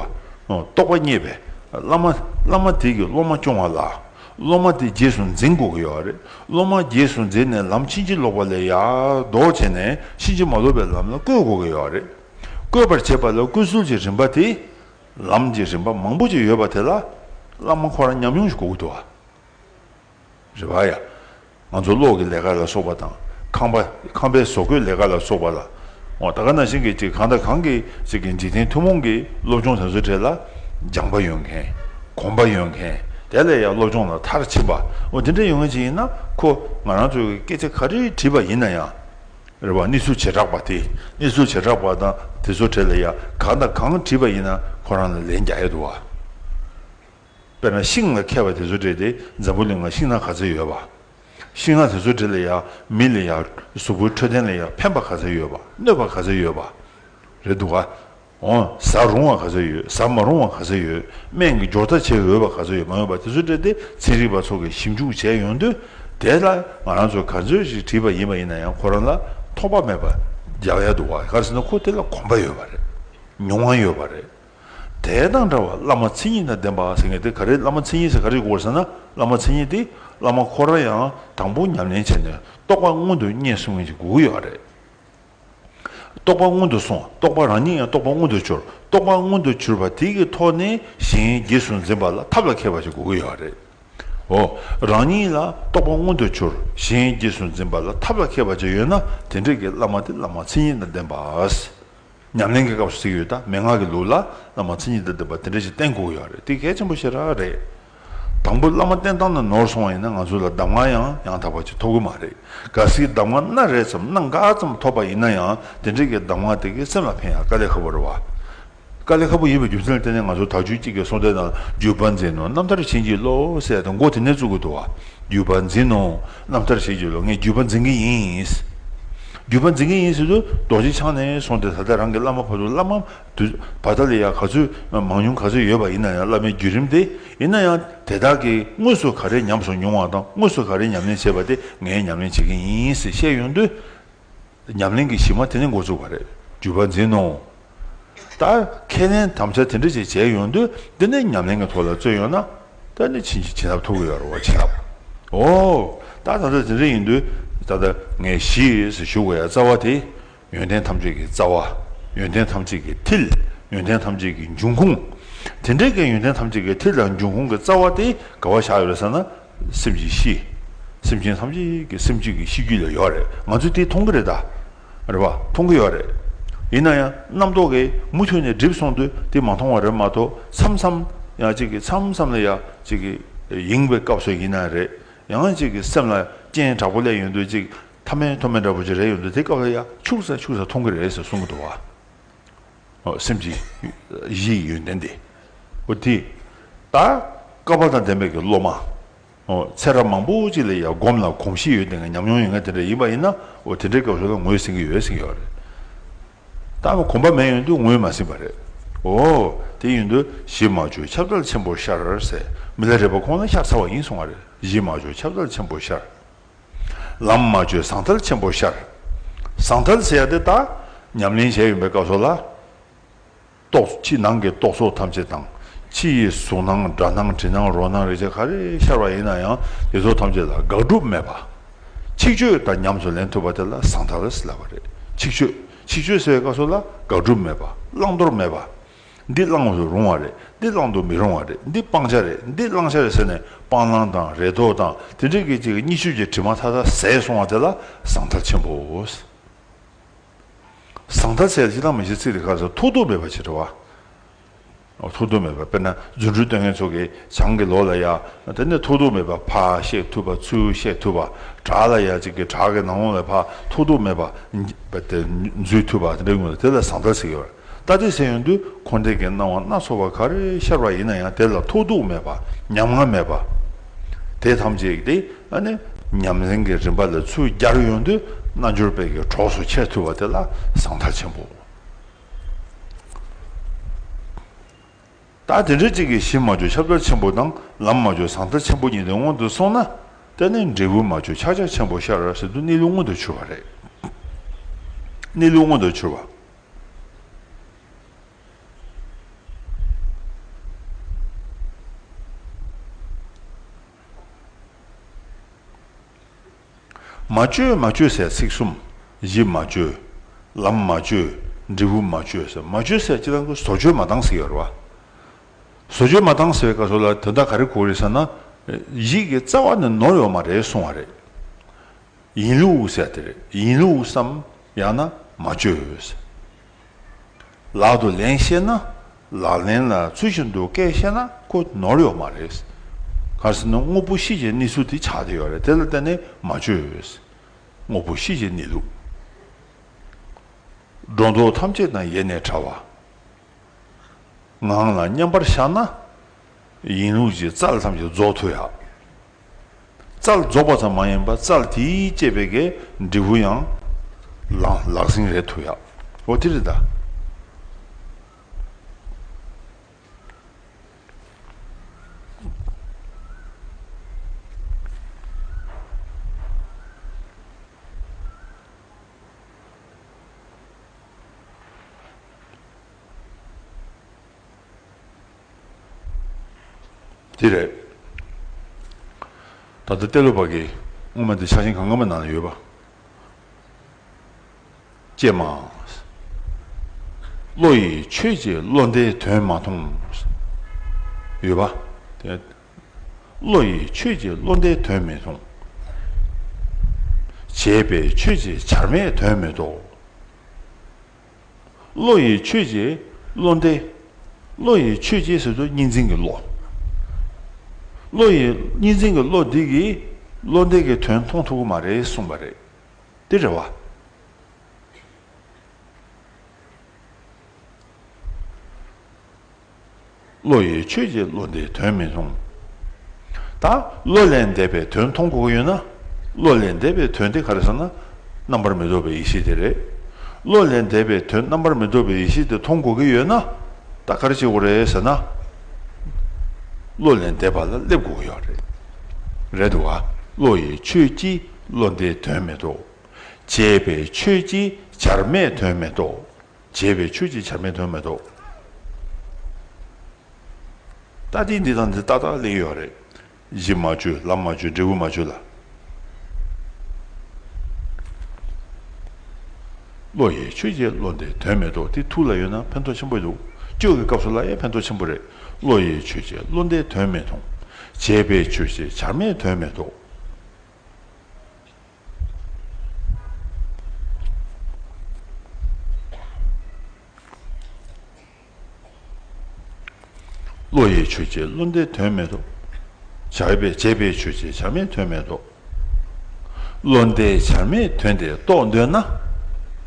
[SPEAKER 1] བ། རྟོགས་པ་རྙེད་པའི་བླ་མ་བླ་མ་དེ་གིས་སློབ་མ་སྐྱོང་བ་ལ། སློབ་མ་དེ་རྗེས་སུ་འཛིན་དགོས་ཀྱི་ཡོད་པ་རེད། སློབ་མ་རྗེས་སུ་འཛིན་ནས་ལམ་ཕྱིན་ཅི་ལོག་པ་ལས་ཡར་ལྡོག་བྱས་ནས་ཕྱིན་ཅི་མ་ལོག་པའི་ལམ་ལ་བཀོད་དགོས་ཀྱི་ཡོད་པ་རེད། བཀོད་པར་བྱེད་པ་ལ་བཀོད་ཚུལ་གྱི་རིམ་པ་དེ། ལམ་གྱི་རིམ་པ་མང་པོ་ཅིག་ཡོད་པ་དེ་ལ་བླ་མ་ཁོ་རང་ཉམས་མྱོང་ཞིག་དགོས་ཀྱི་འདུག་ཨ། རེད་བ་ཡ། ང་ཚོ་གློག་གི་ལས་ཀ་ལ་སོགས་པ་དང་ཁང་པ་ཁང་པའི་བཟོ་བཀོད་ལས་ཀ་ལ་སོགས་པ་ལ་འོ་ད་ག་ན་བཞིན་གྱི་ཅིག་གང་དང་གང་གི་ཅིག་གི་འཇིག་རྟེན་ཐུན་མོང་གི་སློབ་སྦྱོང་དེ་ཚོ་གྲས་ལ་སྦྱངས་པ་ཡོད་མཁན་གོམས་པ་ཡོད་མཁན་དེ་ལས་ཡང་སློབ་སྦྱོང་ལ་མཐར་ཕྱིན་པ་འོ་དེ་འདྲ་ཡོད་མཁན་ཅིག་ཡིན་ན་ཁོ་ང་རང་ཚོའི་སྐད་ཆ་ག་རེ་དྲིས་པ་ཡིན་ན་ཡང། རེ་བ་གནས་ཚུལ་བྱེ་བྲག་པ་དེས་གནས་ཚུལ་བྱེ་བྲག་པ་དང་དེ་ཚོ་གྲས་ལ་ཡ་གང་དང་གང་བྲིས་པ་ཡིན་ན་ཁོ་རང་ལ་ལན་རྒྱག་ཡས་འདུག་བ། དཔེར་ན་ཤིང་ལ་མཁས་པ་དེ་ཚོ་གྲས་དེ་འཛམ་བུ་གླིང་ལ་ཤིང་ནག་ག་ཚོད་ཡོད་བ། ཤིང་ནག་དེ་ཚོ་གྲས་ལ་ཡ་མི་ལ་ཡ་གཟུགས་པོའི་འཕྲོད་བསྟེན་ལ་ཡ་ཕན་པ་ག་ཚོད་ཡོད་བ་གནོད་པ་ག་ཚོད་ཡོད་བ། རེད་འདུག་བ། འོང་ཟ་རུང་བ་ག་ཚོད་ཡོད་ཟ་མ་རུང་བ་ག་ཚོད་ཡོད་སྨན་གྱི་སྦྱོར་རྩ་བྱེད་འོས་པ་ག་ཚོད་ཡོད་མ་ཡོད་པ་དེ་ཚོ་སྤྲད་དེ་ཚན་རིག་པ་ཚོ་གིས་ཞིབ་འཇུག་བྱས་ཡོང་དུས་དེ་ལ་ང་རང་ཚོས་ག་ཚོད་ཞིག་བྲིས་པ་ཡིན་པ་ཡིན་ན་ཡང་ཁོ་རང་ལ་ཐོགས་པ་མེད་པ་རྒྱག་ཡ་འདུག་ག་ཟེར་ན་ཁོ་དེ་ལ་གོམས་པ་ཡོད་པ་རེད་མྱོང་བ་ཡོད་པ་རེད། དེ་དང་འདྲ་བར་བླ་མ་མཚན་ཉིད་དང་ལྡན་པ་ཟེར་མཁན་དེ་ག་རེད་བླ་མ་མཚན་ཉིད་ཟེར་ག་རེད་གོ་ཟེར་ན་བླ་མ་མཚན་ཉིད་དེ་བླ་མ་ཁོ་རང་ཡང་དང་པོ་ཉམས་ལེན་བྱས་ནས་རྟོགས་པ་མངོན་དུ་བརྙེས་གསུང་མཁན་གྱི་དགོས་ཀྱི་ཡོད་རེད། རྟོག་པ་སྔོན་དུ་སོང་རྟོག་པ་རང་ཉིད་ཡང་རྟོག་པ་སྔོན་དུ་འཆོར་རྟོག་པ་སྔོན་དུ་འཆོར་བ་དེ་གི་ཐོག་ནས་གཞན་རྗེས་སུ་འཛིན་པ་ལ་ཐབས་ལ་མཁས་པ་ཞིག་དགོས་ཀྱི་ཡོད་རེད་འོ། རང་ཉིད་ལ་རྟོག་པ་སྔོན་དུ་འཆོར་གཞན་རྗེས་སུ་འཛིན་པ་ལ་ཐབས་ལ་མཁས་པ་ཅིག་ཡོད་ན་དེ་འདྲ་གི་བླ་མ་དེ་བླ་མ་མཚན་ཉིད་དང་ལྡན་པ། ཉམས་ལེན་གི་སྐབས་སུ་གཟིགས་ཡོད་ད་མན་ངག་གི་ལུགས་ལ་བླ་མ་མཚན་ཉིད་དང་ལྡན་པ་དེ་འདྲ་ཞིག་བསྟེན་དགོས་ཀྱི་ཡོད་རེད་དེ་གལ་ཆེན་པོ་ཞིག་ར་རེད། དང་པོ་བླ་མ་བསྟེན་སྟངས་འདི་ནོར་སོང་བ་ཡིན་ན་ང་ཚོ་ལ་གདམས་ངག་ཡང་ཡང་དག་པ་ཅིག་ཐོབ་གི་མ་རེད། གལ་སྲིད་གདམས་ངག་སྣ་རེ་ཙམ་སྣ་འགའ་ཙམ་ཐོབ་པ་ཡིན་ན་ཡང་དེ་འདྲ་གི་གདམས་ངག་དེ་གའི་སེམས་ལ་ཕན་ཡང་དཀའ་ལས་ཁ་པོ་རེད་བ། དཀའ་ལས་ཁ་པོ་ཡིན་པའི་རྒྱུ་མཚན་ལ་བརྟེན་ནས་ང་ཚོ་དག་རྒྱུད་གཅིག་གི་གསུང་སྡེ་དང་རྒྱུད་པ་འཛིན་ནོ་རྣམ་ཐར་བྱིན་གྱིས་བརློ་བསད་དེ་མགོ་དེ་ནས་བཙུགས་གི་འདུག་བ། རྒྱུད་པ་འཛིན་ནོ་རྣམ་ཐར་བྱིན་གྱིས་བརློ་ངས་རྒྱུད་པ་འཛིན་གི་ཡིན། རྒྱུད་པ་འཛིན་གི་ཡིན་ཟེར་དུས་རྡོ་རྗེ་འཆང་ནས་བཟུང་སྟེ་ད་ལྟ་རང་གི་བླ་མ་བར་དུ་བླ་མ། དུ་བ་ད་ལི་ཡ་ག་ཚོད་མང་ཉུང་ག་ཚོད་ཡོད་པ་ཡིན་ན་ཡང་བླ་མའི་བརྒྱུད་རིམ་སྟེ་ཡིན་ན་ཡང་དེ་དག་གིས་དངོས་སུ་ག་རེ་ཉམས་སོང་མྱོང་བ་དང་དངོས་སུ་ག་རེ་ཉམས་ལེན་བྱས་པ་དེ་ངས་ཉམས་ལེན་བྱེད་ཀྱིན་ཡིན་ཟེར་བཤད་ཡོང་དུས། ཉམས་ལེན་གྱི་གཞི་མ་དེ་ནས་འགོ་བཙུགས་པ་རེད་འགྱུར་བ་འཛིན་ནོ། ད་ཁས་ལེན་དམ་བཅའ་དེ་འདྲ་ཞིག་བྱས་ཡོང་དུས་འདི་ནས་ཉམས་ལེན་གྱི་ཐོག་ལ་བརྩོན་ཡོང་ན། ད་ནི་ཕྱིན་ཅི་ལྟར་ཐུག་གི་ཡོད་རེད་བ་ཇི་ལབ། འོ། ད་དམ་བཅའ་དེ་འདྲ་ཡིན་དུས་ད་ལྟ་ངས་གཞིས་སུ་བཞུགས་པ་ཡ་རྩ་བ་དེ་ཡོན་ཏན་ཐམས་ཅད་ཀྱི་རྩ་བ། ཡོན་ཏན་ཐམས་ཅད་ཀྱི་མཐིལ། ཡོན་ཏན་ཐམས་ཅད་ཀྱི་འབྱུང་ཁུངས། དེ་འདྲའི་གནས་ཡོན་ཏན་ཐམས་ཅད་ཀྱི་མཐིལ་དང་འབྱུང་ཁུངས་ཀྱི་རྩ་བ་དེ་ག་བ་བཞག་ཡོད་ཟེར་ན། སེམས་ཀྱི་གཤིས། སེམས་ཅན་ཐམས་ཅད་ཀྱི་སེམས་ཅན་གྱི་གཤིས་རྒྱུད་ལས་ཡོད་རེད་ང་ཚོས་དེ་མཐོང་གི་རེད་ད། རེད་པ། མཐོང་གི་ཡོད་རེད། ཡིན་ན་ཡང་རྣམ་རྟོག་གིས་མུ་མཐུད་ནས་བསྒྲིབས་སོང་དུས་དེ་མ་མཐོང་བ་རེད་མ་གཏོགས་མཚམས་མཚམས་ཡང་གཅིག་གིས་མཚམས་མཚམས་ལ་ཡང་གཅིག་གིས་ཡེངས་པའི་སྐབས་སུ་ཡིན་ན་རེད་ཡང་གཅིག་གིས་སེམས་ལ་རྐྱེན་དྲག་པོ་སླེབས་ཡོང་དུས་གཅིག་ཐ་མལ་མཐོ་དམན་འདྲ་པོ་ཅི་རེ་ཡོད་འདུག་དེ་སྐབས་ལ་ཡ་ཕྱུག་ས་ཕྱུག་ས་མཐོང་གི་རེད་ཟེར་གསུང་གི་འདུག་བ། ཧོ་སེམས་ཀྱི་གཞི་ཡི་ཡོན་ཏན་དེ། ཨོ་དེ། ད། སྐལ་པ་དང་ལྡན་པའི་གི་སློབ་མ། ཧོ་ཚེ་རབས་མང་པོ་ཅིག་ལ་ཡ་སྒོམ་ལ་གོམས་གཤིས་ཡོད་དེ་ང་ཉམས་མྱོང་ཡོད་ངེས་དེ་འདྲ་ཡིན་པ་ཡིན་ན་ཨོ་དེ་འདྲའི་སྐབས་སུ་ལ་ངོས་ཟིན་གི་ཡོད་ཟིན་གི་ཡོད་རེད། ད་ནི་གོམས་པ་མེད་ཡོད་འདུག་ངོས་མ་ཟིན་པ་རེད། ཨོ། དེ་ཡོད་འདུག་གཞི་མ་བཅོས་ཁྱབ་བདལ་ཆེན་པོ་ཤར་ཟེར་མི་ལ་རེ་བ་ཁོང་ལ་ཤ་ཚ་བ་ཡིན་གསུང་བ་རེད་གཞི་མ་བཅོས་ཁྱབ་བདལ་ཆེན་པོ་ཤར། ལམ་མ་བཅོས་ཟང་ཐལ་ཆེན་པོ་ཤར། ཟང་ཐལ་ཟེར་ཡག་འདི་ལྟ། ཉམས་ལེན་བྱས་ཡོན་པའི་སྐབས་སོགས་ལ། རྟོགས། ཕྱི་ནང་གི་རྟོག་ཚོགས་ཐམས་ཅད་དང། ཕྱི་ཡི་གཟུགས་སྣང་སྒྲ་སྣང་དྲི་སྣང་རོ་སྣང་རེག་བྱ་ག་རེ་ཤར་བ་ཡིན་ན་ཡང་དེ་ཚོ་ཐམས་ཅད་ལ་དགག་སྒྲུབ་མེད་པ། ཆིག་ཆོད་དང་ཉམས་སུ་ལེན་ཐུབ་པ་དེ་ལ་ཟང་ཐལ་ཟེར་བ་རེད། ཆིག་ཆོད། ཆིག་ཆོད་ཟེར་བའི་སྐབས་སོགས་ལ་དགག་སྒྲུབ་མེད་པ། བླང་དོར་མེད་པ། འདི་བླང་དུ་རུང་བ་རེད་འདི་བླང་དུ་མི་རུང་བ་རེད་འདི་སྤང་བྱ་རེད་འདི་བླང་བྱ་རེད་ཟེར་ནས་སྤང་བླང་དང་རེ་དོགས་དང་དེ་འདྲའི་སྐད་ཅིག་གིས་གཉིས་ཆོས་ཀྱི་དྲི་མ་མཐའ་དག་ཟད་སོང་བ་དེ་ལ་ཟང་ཐལ་ཆེན་པོའོ། ཟང་ཐལ་ཟེར་ཡག་ཅི་དང་མི་བྱེད་ཚིག་དེ་ག་ཟེར་ཐུགས་རྡོ་མེད་པ་ཆེ་དྲི་བ། ཐུགས་རྡོ་མེད་པ་དཔེར་ན་རྫུ་འཕྲུལ་སྟོན་མཁན་ཚོ་གི་བྱང་གི་ལོ་ལ་ཡ་དེ་ནས་ཐུགས་རྡོ་མེད་པ་ཕ་གཤེགས་ཐུབ་པ་ཚུལ་གཤེགས་ཐུབ་པ་བྲག་ལ་ཡ་ཅིག་གི་བྲག་གི་ནང་ལོང་ལས་ཕ་ཐུགས་རྡོ་མེད་པ། རྫུས་ཐུབ་པ་དེ་འདྲའི་ངོས་ལ་དེ་ལ་ཟང་ཐལ་ཟེར་གི་རེད། ལྟ་དེ་སེམས་ཡོད་དུ་འཁོར་འདས་ཀྱི་སྣང་བ་སྣ་ཚོགས་པ་ག་རེ་ཤར་བ་ཡིན་ན་ཡང་དེ་ལ་ཐོགས་རྡུགས་མེད་པ་ཉམ་ང་མེད་པ། དེ་ཐམས་ཅད་དེ་ནི་ཉམས་ལེན་གྱི་རིམ་པ་ལས་ཚུར་རྒྱར་ཡོད་དུ་རྣལ་འབྱོར་དཔལ་གྱི་གྲོགས་སུ་ཁྱེར་ཐུབ་པ་དེ་ལ་ཟང་ཐལ་ཆེན་པོའོ། ད་དེ་འདྲའི་གཅིག་གིས་གཞི་མ་བཅོས་ཁྱབ་བདལ་ཆེན་པོ་དང་ལམ་མ་བཅོས་ཟང་ཐལ་ཆེན་པོ་གཉིས་དེ་སྔོན་དུ་སོང་ན་དེ་ནི་འབྲས་བུ་མ་བཅོས་ཆགས་ཆགས་ཆེན་པོ་ཤར་ཟིན་དུ་གནས་ལུགས་མངོན་དུ་ཕྱུར་བ་རེད། གནས་ལུགས་མངོན་དུ་ཕྱུར་བ། མ་བཅོས་མ་བཅོས་སའི་ཚིག་གསུམ། གཞི་མ་བཅོས། ལམ་མ་བཅོས། འབྲས་བུ་མ་བཅོས་ཟེར། མ་བཅོས་སའི་སྤྱི་དང་པོའི་བཟོ་བཅོས་མ་བཏང་ཟེར་བ། བཟོ་བཅོས་མ་བཏང་ཟེར་བའི་སྐབས་སུ་ལ་དོན་དག་ག་རེ་གོ་རེད་ཟེར་ན། ཡིད་ཀྱི་རྩ་བ་ནས་ནོར་ཡོད་མ་རེད་གསུང་བ་རེད། ཡིན་ལུགས་ཟེར་དེར་ཡིན་ལུགས་སམ་ཡང་ན་མ་བཅོས་ཟེར། ལག་ཏུ་ལན་བཤད་ན་ལག་ལེན་ལ་ཚུལ་བཞིན་དུ་སྐད་བཤད་ན་ཁོ་ནོར་ཡོད་མ་རེད། གང་ཟེར་ན་དངོས་པོ་གཤིས་ཀྱི་གནས་ཚུལ་དེ་ཆགས་བསྡད་ཡོད་རེད་དེ་ལ་བརྟེན་ནས་མ་བཅོས། དངོས་པོ་གཤིས་ཀྱི་གནས་ལུགས། སྒྲོ་འདོགས་ཐམས་ཅད་དང་ཡེ་ནས་བྲལ་བ། ངང་ལ་མཉམ་པར་བཞག་ན་ཡིན་ལུགས་ཀྱི་རྩལ་ཐམས་ཅད་རྫོགས་ཐུབ་ཡ། རྩལ་རྫོགས་པ་ཙམ་མ་ཡིན་པར་རྩལ་དེས་བསྐྱེད་པའི་གའི་འབྲས་བུ་ཡང་ལག་ཟིན་རེད་ཐུ་ཡག་འོ་དེ་རེད་ད། འདི་རེད། ད་ལྟ་གཏེར་ལོ་བ་གིས་སྔོན་མ་འདི་ཆགས་ཞེན་གང་ག་མ་ནང་ན་ཡོད་པ། ཅེས་མ། བློ་ཡིས་ཆོས་ཀྱི་བློ་འདི་དོན་མ་མཐོང། ཡོད་པ། བློ་ཡིས་ཆོས་ཀྱི་བློ་འདི་དོན་མི་མཐོང། བྱས་པས་ཆོས་ཀྱི་བྱར་མེད་དོན་མི་རྟོགས། བློ་ཡི་ཆོས་ཀྱི་བློ་འདི། བློ་ཡི་ཆོས་ཀྱི་ཟེར་དུས་གཉིས་འཛིན་གྱི་བློ། བློ་ཡི་གཉིས་འཛིན་གྱི་བློ་འདི་གིས་བློ་འདས་ཀྱི་དོན་མཐོང་ཐུབ་ཀྱི་མ་རེད་གསུངས་པ་རེད། འདི་རེད་བ། བློ་ཡིས་ཆོས་ཀྱི་བློ་འདི་དོན་མི་མཐོང། ད་བློ་ལས་འདས་པའི་དོན་མཐོང་དགོས་ཀྱི་ཡོད་ན། བློ་ལས་འདས་པའི་དོན་དེ་ག་རེ་ཟེར་ན། རྣམ་པར་མི་རྟོག་པའི་ཡེ་ཤེས་དེ་རེད། བློ་ལས་འདས་པའི་དོན་རྣམ་པར་མི་རྟོག་པའི་ཡེ་ཤེས་དེ་མཐོང་དགོས་ཀྱི་ཡོད་ན། ད་ག་རེ་བྱེད་དགོས་རེད་ཟེར་ན། བློ་ལས་འདས་པ་ལ་སླེབས་དགོས་ཀྱི་ཡོད་རེད། རེད་དུ་བ། བློ་ཡིས་ཆོས་ཀྱི་བློ་འདི་དོན་མི་རྟོག། བྱས་པས་ཆོས་ཀྱི་བྱར་མེད་དོན་མི་རྟོག། བྱས་པས་ཆོས་ཅིག་ཆར་མེད་དོན་མེད་དོ། ལྟ་སྟེ་འདི་དང་འདི་ཏག་ཏག་གླེང་ཡོད་རེད། གཞི་མ་བཅོས་ལམ་མ་བཅོས་འབྲས་བུ་མ་བཅོས་ལ། བློ་ཡིས་ཆོས་ཅིག་བློ་འདི་དོན་མེད་དོ་འདི་ཐུགས་ལ་ཡོད་ན་ཕན་ཐོགས་ཆེན་པོ་འདུག་བཅོས་ཀྱི་སྐབས་སུ་ལ་ཡང་ཕན་ཐོགས་ཆེན་པོ་རེད། བློ་ཡིས་ཆོས་ཅིག་བློ་འདི་དོན་མེད་དོ། བྱས་པས་ཆོས་ཅིག་ཆར་མེད་དོན་མེད་དོ། བློ་ཡི་ཆོས་ཀྱི་བློ་འདས་དོན་མེད་དོ། བྱ་བའི་སྤྱད་པའི་ཆོས་ཀྱི་བྱར་མེད་དོན་མེད་དོ། བློ་འདས་བྱར་མེད་དོན་དེ་རྟོགས་འདོད་ན།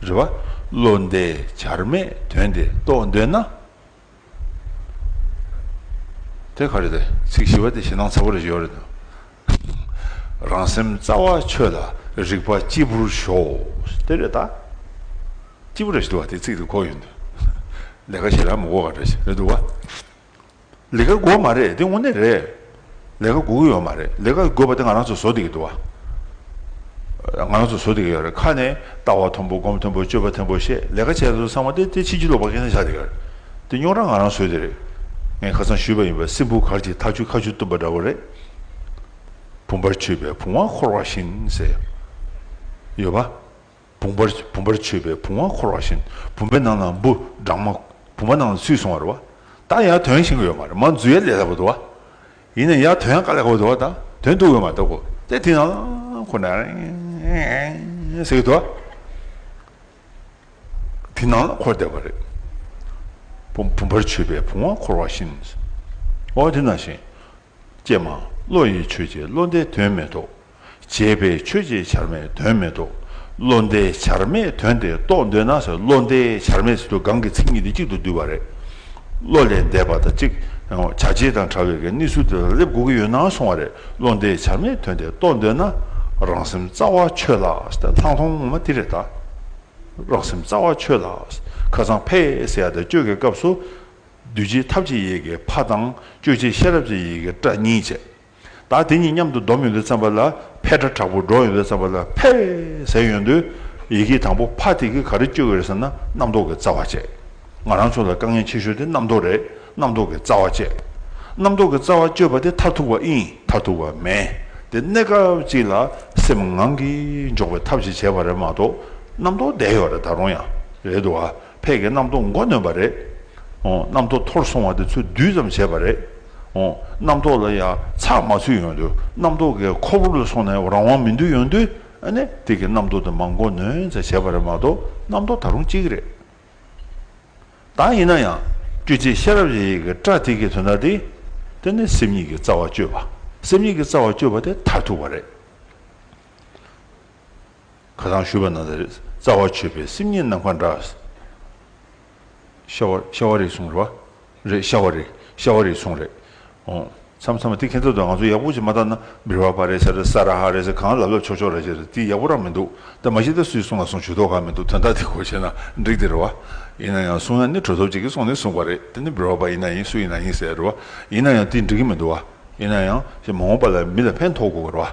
[SPEAKER 1] རེ་བ། བློ་འདས་བྱར་མེད་དོན་དེ་རྟོགས་འདོད་ན། དེ་ག་རེད་དེ་ཚིག་བཞི་བ་དེ་ཞེ་སྡང་ཚ་བོ་རེ་ཞིག་ཡོད་རེད་དོ། རང་སེམས་རྩ་བ་ཆོད་ལ་རིག་པ་སྐྱིད་པོར་ཞོག་དེ་རེད་ད། སྐྱིད་པོ་རེ་ཞིག་འདུག་བ་དེ་ཚིག་དེ་གོ་ཡོད་འདུག་ལས་ཀ་བྱེད་ལ་མི་གོ་ག་རེ་ཞིག་རེད་འདུག་བ། ལི་ཀ་གོ་མ་རེད་དེ་དངོས་གནས་རེད། ལས་ཀ་འགུག་གི་ཡོད་མ་རེད་ལས་ཀ་དགོས་པ་དེ་ང་རང་ཚོ་བཟོ་འདི་གི་འདུག་བ། ང་རང་ཚོ་བཟོ་འདི་གི་ཡོད་རེད་ཁ་ནས་ལྟ་བ་མཐོན་པོ་སྒོམ་མཐོན་པོ་སྤྱོད་པ་མཐོན་པོ་ཞེས་ལས་ཀ་བྱས་སོ་ཚང་མ་དེ་དེ་ཕྱིན་ཅི་ལོག་པ་མཁན་ས་ཆགས་འདི་གི་རེད་དེ་རྙོག་དྲ་ང་རང་བཟོས་འདི་རེད་ངས་ཁ་ཚང་ཞུས་པ་ཡིན་པ་སྲིན་བུ་གར་གྱི་ཐག་ཆུ་ཁ་ཆུ་བཏུམ་པ་འདྲ་བོ་རེད། བུམ་པར་ཆུད་པའི་བུང་བ་འཁོར་བ་བཞིན་ཟེར་ཡོད་བ། བུམ་པར་བུམ་པར་མཆོད་པའི་བུམ་བ་འཁོར་བ་བཞིན་བུམ་པའི་ནང་ན་འབུ་སྦྲང་མ་བུམ་པ་ནང་ལ་ཚུད་སོང་བ་རེད་བ། ད་ཡང་དོན་ཤེས་གི་ཡོད་མ་རེད་མ་འཛུལ་ཡ་ལས་སླ་བོ་འདུག་བ། ཡིན་ན་ཡང་དོན་ཡང་དཀའ་ལས་སླ་བོ་འདུག་བ་ད་དོན་འདུག་ཡོད་མ་འདུག་གོ་དེ་དེ་ཡང་ཁོ་ན་རེད་ཟེར་གི་འདུག་བ། དེ་ནང་ལ་འཁོར་བསྡད་པ་རེད། བུམ་པར་མཆོད་པའི་བུམ་བ་འཁོར་བ་བཞིན། འོ་དེ་ན་བཞིན། ཀྱེ་མ། བློ་ཡིས་ཆོས་བྱས་བློ་འདས་དོན་མེད་དོ། བྱས་པས་ཆོས་བྱས་བྱར་མེད་དོན་མེད་དོ། བློ་འདས་བྱར་མེད་དོན་དེ་རྟོགས་འདོད་ན་བློ་འདས་བྱར་མེད་ཟེར་དུ་གང་གི་ཚིག་གཉིས་དེ་གཅིག་ཏུ་བསྡུས་པ་རེད། བློ་ལས་འདས་པ་དང་གཅིག། བྱ་བྱེད་དང་ཕྲ་བའི་གནས་ཚུལ་དེ་ལ་རེབ་གོ་གི་ཡོད་ན་སོང་བ་རེད་བློ་འདས་བྱར་མེད་དོན་དེ་རྟོགས་འདོད་ན། རང་སེམས་རྩ་བ་ཆོད་ལགས་ལྷག་མཐོང་ངོ་མ་དེ་རེད་ད། རང་སེམས་རྩ་བ་ཆོད་ལགས། ཁ་སང་ཕས་སེ་ཡ་དང་སྤྱོད་དགའི་སྐབས་སུ། གདུལ་བྱའི་ཐབས་ཀྱི་ཡི་གེ་ཕ་དང་གཅོད་བྱེད་ཤེས་རབ་ཀྱི་ཡི་གེ་ཏྲ་གཉིས་བྱས། བདག་དེ་གཉིས་མཉམ་དུ་སྡོམ་ཡོན་ཏན་བརྩམས་པ་ལ་ཕས་ཏྲ་དྲག་པོ་སྒྲོག་ཡོན་ཏན་བརྩམས་པ་ལ་ཕས་ཟས་ཡོན་ཏོའི་ཡི་གེ་དང་པོ་ཕ་དེ་གིས་ག་རེ་གཅོད་ཀྱི་རེད་ཟེར་ན་རྣམ་རྟོག་གི་རྩ་བ་བཅད། ང་རང་ཚོ་ལ་དཀའ་ངལ་ཆེ་ཤོས་དེ་རྣམ་རྟོག་རེད་རྣམ་རྟོག་གི་རྩ་བ་བཅད། རྣམ་རྟོག་གི་རྩ་བ་གཅོད་པ་དེ་མཐར་ཐུག་པ་ཨིན་མཐར་ཐུག་པ་མེད་དེ་གནས་སྐབས་གཅིག་ལ་སེམས་ངང་གིས་འཇོག་པའི་ཐབས་ཅིག་བྱས་པ་རེད་མ་གཏོགས་རྣམ་རྟོག་བསྡད་ཡོད་རེད་ད་རུང་ཡང་རེད་འདུག་ཨ། ཕས་ཀྱི་རྣམ་རྟོག་མགོ་ནོན་པ་རེད། རྣམ་རྟོག་འཐོར་སོང་བ་དེ་ཚོ་སྡུད་ཙམ་བྱས་པ་རེད། རྣམ་རྟོག་ལ་ཡང་ཚགས་མ་ཚུད་ཡོང་དུས་རྣམ་རྟོག་གི་ཁོ་བོར་ལ་སོང་ནས་རང་དབང་མི་འདུག་ཡོང་དུས་ནི་དེ་ཀྱི་རྣམ་རྟོག་དེ་མང་མགོ་ནོན་ཙམ་བྱས་པ་རེད་མ་གཏོགས་རྣམ་རྟོག་ད་རུང་གཅིག་རེད། ད་ཡིན་ན་ཡང་སྤྲོས་བཅས་ཤེས་རབ་ཡེ་ཡིད་ཀྱི་པྲ་ཏི་ཀའི་དོན་དག་འདི། དེ་ནི་སེམས་ཉིད་ཀྱི་རྩ་བ་གཅོད་པ་སེམས་ཉིད་ཀྱི་རྩ་བ་གཅོད་པ་དེ་མཐར་ཐུག་པ་རེད། ཁ་ཚང་ཤུལ་པ་ན་ད་རེས་རྩ་བ་ཆོད་པའི་སེམས་ཉིད་ནམ་མཁའ་འདྲ། ཤ་བ་རེད་གསུངས་རེད། རེད་ཤ་བ་རེད་ཤ་བ་རེད་གསུངས་རེད། ཨོ། མཚམས་མཚམས་ལ་དེ་ཁེ་འཚོགས་དང་ང་ཚོ་ཡག་པོ་ཅིག་མ་བཏང་ན་བིར་བ་བ་རེད་ས་རེད་ས་ར་ཧ་རེད་ཟེར་གང་ལབ་ལབ་ཆོག་ཆོག་རེད་ཅེས་རེད་དེ་ཡག་པོ་རང་མི་འདུག་ད་མ་གཞི་ད་སུས་གསུངས་ལ་གསུངས་ཇུས་གཏོགས་གང་མི་འདུག་དོན་དག་དེ་གོ་བྱས་ན་འགྲིག་དེ་རེད་བ། ཡིན་ན་ཡང་གསུང་ཡ་ནི་གྲོས་ཚོགས་གཅིག་གིས་གསུངས་ནས་གསུངས་པ་རེད་དེ་ནི་བིར་བ་བ་ཡིན་ན་ཡིན་སུ་ཡིན་ན་ཡིན་ཟེར་ཡ་རེད་བ། ཡིན་ན་ཡང་དེ་འགྲིག་གི་མི་འདུག་བ། ཡིན་ན་ཡང་ཞེས་མ་འོངས་པ་ལ་མི་ལ་ཕན་ཐོགས་དགོས་པ་རེད་བ།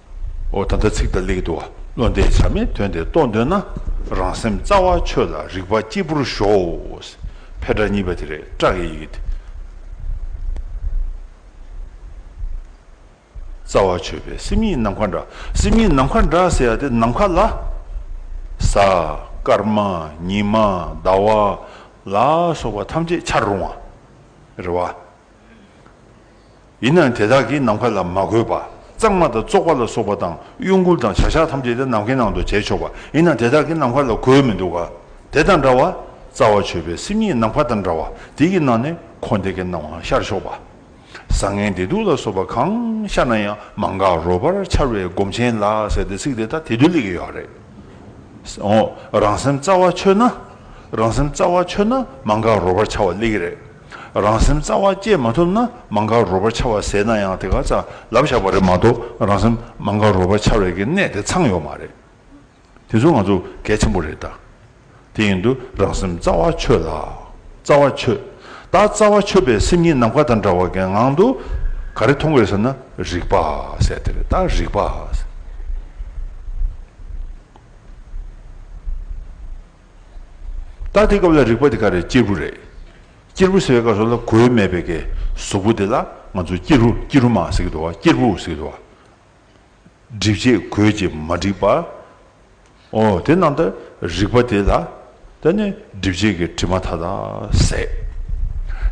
[SPEAKER 1] ཨོ་ད་ལྟ་ཚིག་དང་ལེགས་འདུ་བ་བློ་འདས་བྱར་མེད་དོན་དེ་རྟོགས་འདོད་ན་རང་སེམས་རྩ་བ་ཆོད་ལ་རིག་པ་སྐྱིད་པོར་གཞོགས། ཕལ་དྲག་གཉིས་པ་དེ་རེད་སྐྲག་ཡི་ཡི་དེ། རྩ་བ་ཆོད་པའི་སེམས་ཉིད་ནམ་མཁའ་འདྲ། སེམས་ཉིད་ནམ་མཁའ་འདྲ་ཟེར་ཡ་དེ་ནམ་མཁའ་ལ། གཟའ། སྐར་མ། ཉི་མ། ཟླ་བ། ལ་སོགས་པ་ཐམས་ཅད་འཆར་རུང་བ། རེད་བ། ཡིན་ནའང་དེ་དག་གིས་ནམ་མཁའ་ལ་མ་གོས་པ། གཙང་མ་དང་བཙོག་པ་ལ་སོགས་པ་དང་གཡོ་འགུལ་དང་བྱ་གཞག་ཐམས་ཅད་དེ་ནམ་མཁའི་ནང་དུ་བྱས་ཆོག་པ་ཡིན་ནའང་དེ་དག་གིས་ནམ་མཁའ་ལ་གོས་མི་འདུག་ག། དེ་དང་འདྲ་བར། རྩ་བ་ཆོད་པའི་སེམས་ཉིད་ནམ་མཁའ་དང་འདྲ་བ་དེ་ཡི་ནང་ནས་འཁོར་འདས་ཀྱི་སྣང་བའང་ཤར་ཆོག་པ། བཟང་ངན་བདེ་སྡུག་ལ་སོགས་པ་གང་ཤར་ན་ཡང་མ་འགགས་རོལ་པར་འཆར་བའི་སྒོམ་ཆེན་ལ་ཟེར་ཏེ་ཚིག་དེ་དག་དེ་དུས་ལས་ཀྱི་ཡོད་རེད། འོ། རང་སེམས་རྩ་བ་ཆོད་ན། རང་སེམས་རྩ་བ་ཆོད་ན་མ་འགགས་རོལ་པར་འཆར་བ་ལས་ཀྱི་རེད། རང་སེམས་རྩ་བ་བསྐྱེད་མ་ཐུབ་ན་མ་འགག་རོལ་པར་འཆར་བ་ཟད་ན་ཡང་དེ་ག་རྩ་ལབ་བཞག་པ་རེད་མ་གཏོགས་རང་སེམས་མ་འགག་རོལ་པར་འཆར་བའི་གི་གནད་དེ་ཚང་ཡོད་མ་རེད། དེ་ཚོ་ང་ཚོ་གལ་ཆེན་པོ་རེད་ད། དེ་ཡིན་དུ་རང་སེམས་རྩ་བ་ཆོད་ལ། རྩ་བ་ཆོད། ད་རྩ་བ་ཆོད་པའི་སེམས་ཉིད་ནམ་མཁའ་དང་འདྲ་བ་གའི་ངང་དུ། ག་རེ་མཐོང་དགོས་ཟེར་ན་རིག་པ་ཟེར་དེ་རེད་ད་རིག་པ། ད་དེ་སྐབས་ལ་རིག་པ་དེ་ག་རེད་སྐྱེས་བུ་རེད། སྐྱེར་བུ་ཟེར་བའི་སྐབས་སུ་ལ་གོའི་མེད་པའི་ཀའི་གཟུགས་པོ་དེ་ལ་ང་ཚོ་སྐྱེ་རུ་སྐྱེ་རུ་མ་ཟེར་གི་འདུག་བ་སྐྱེར་བུ་ཟེར་གི་འདུག་བ། སྒྲིབ་བྱེད་གོས་ཀྱིས་མ་བསྒྲིབས་པ། ཨོ་དེ་ནང་ད་རིག་པ་དེ་ལ་ད་ནི་སྒྲིབ་བྱེད་ཀྱི་དྲི་མ་མཐའ་དག་ཟད།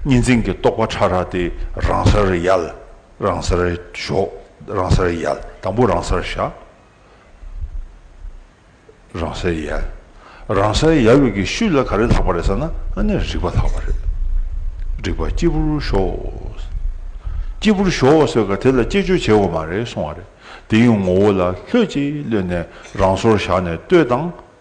[SPEAKER 1] གཉིས་འཛིན་གྱི་རྟོག་པ་ཕྲ་རགས་དེ་རང་སར་ཡལ། རང་སར་ཞོག་རང་སར་ཡལ་དང་པོ་རང་སར་བཞག། རང་སའི་ཡལ། རང་སའི་ཡལ་བའི་གི་ཤུད་ལ་ག་རེ་ལྷག་པ་རེད་ས་ན་ཨ་ནི་རིག་པ་ལྷག་པ་རེད། རིག་པ་སྐྱིད་པོར་ཤོག། སྐྱིད་པོར་ཤོག་ཟེར་ག་དེ་ལ་དཔྱད་བརྗོད་བྱེད་དགོས་མ་རེད་གསུང་བ་རེད། དེ་ཡང་ངོ་བོ་ལ་ལྷོད་ཅིག་གློད་ནས་རང་སོར་བཞག་ནས་ལྟོས་དང་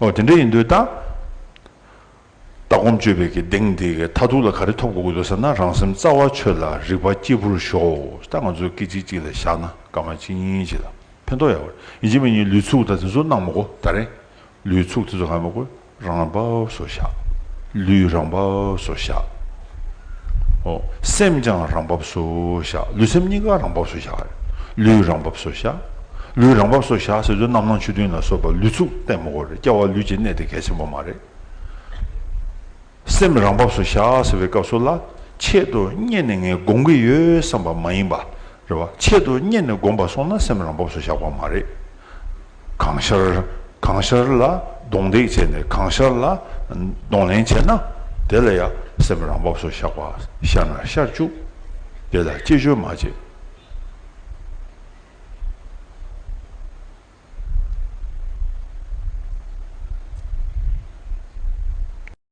[SPEAKER 1] ཨོ་དེ་འདྲ་ཡིན་དུས་ད། ལྟ་སྒོམ་སྤྱོད་པའི་གི་གདེང་དེ་གི་ཐ་ཐུག་ལ་ག་རེ་ཐོབ་དགོས་དགོས་ཟེར་ན་རང་སེམས་རྩ་བ་ཆོད་ལ་རིག་པ་སྐྱིད་པོར་ཞོགས་ད་ང་ཚོ་སྐད་ཅིག་གཅིག་ལ་བཞག་ན་སྐར་མ་གཅིག་གཉིས་གཅིག་ལ་ཕན་ཐོགས་ཡག་པོ་རེད་ཡིན་གཅིག་མ་གཉིས་ལུས་ཚུགས་ད་དེ་ཚོ་གནང་མ་གོ་ད་རེད་ལུས་ཚུགས་དེ་ཚོ་གང་ཡང་མ་གོ། རང་སྦ་བསོ་བཞག། ལུས་རང་སྦ་བསོ་བཞག། ཧོ། སེམས་ཀྱང་རང་སྦ་བསོ་བཞག། ལུས་སེམས་གཉིས་ཀ་རང་སྦ་བསོ་བཞག་ཧེ། ལུས་རང་སྦ་བསོ་བཞག། ལུས་རང་སྦ་བསོ་བཞག་ཟེར་དུས་རྣམ་སྣང་ཆོས་བདུན་ལ་སོགས་པ་ལུས་ཚུགས་ལྟད་མོ་གོ་རེ་སྐྱེ་བ་ལུས་ཀྱི་གནས་དེ་གལ་ཆེན་པོ་མ་རེད། སེམས་རང་སྦ་བསོ་བཞག་ཟེར་བའི་སྐབས་སུ་ལ་ཆེད་དུ་གཉེར་ནས་ངས་དགོངས་ཀྱི་ཡོད་བསམ་པ་མ་ཡིན་པ་རེད་བ། ཆེད་དུ་གཉེར་ནས་དགོངས་པ་སོང་ན་སེམས་རང་སྦ་བསོ་བཞག་པ་མ་རེད། གང་ཤར་གང་ཤར་ལ་གདོང་འདེགས་བྱས་ནས་གང་ཤར་ལ་གདོང་ལེན་བྱས་ན་དེ་ལ་ཡང་སེམས་རང་བབས་སུ་བཞག་པ་ཤར་ན་ཤར་བཅུག་དེ་ལ་ཅི་བཅོལ་མ་བྱེད།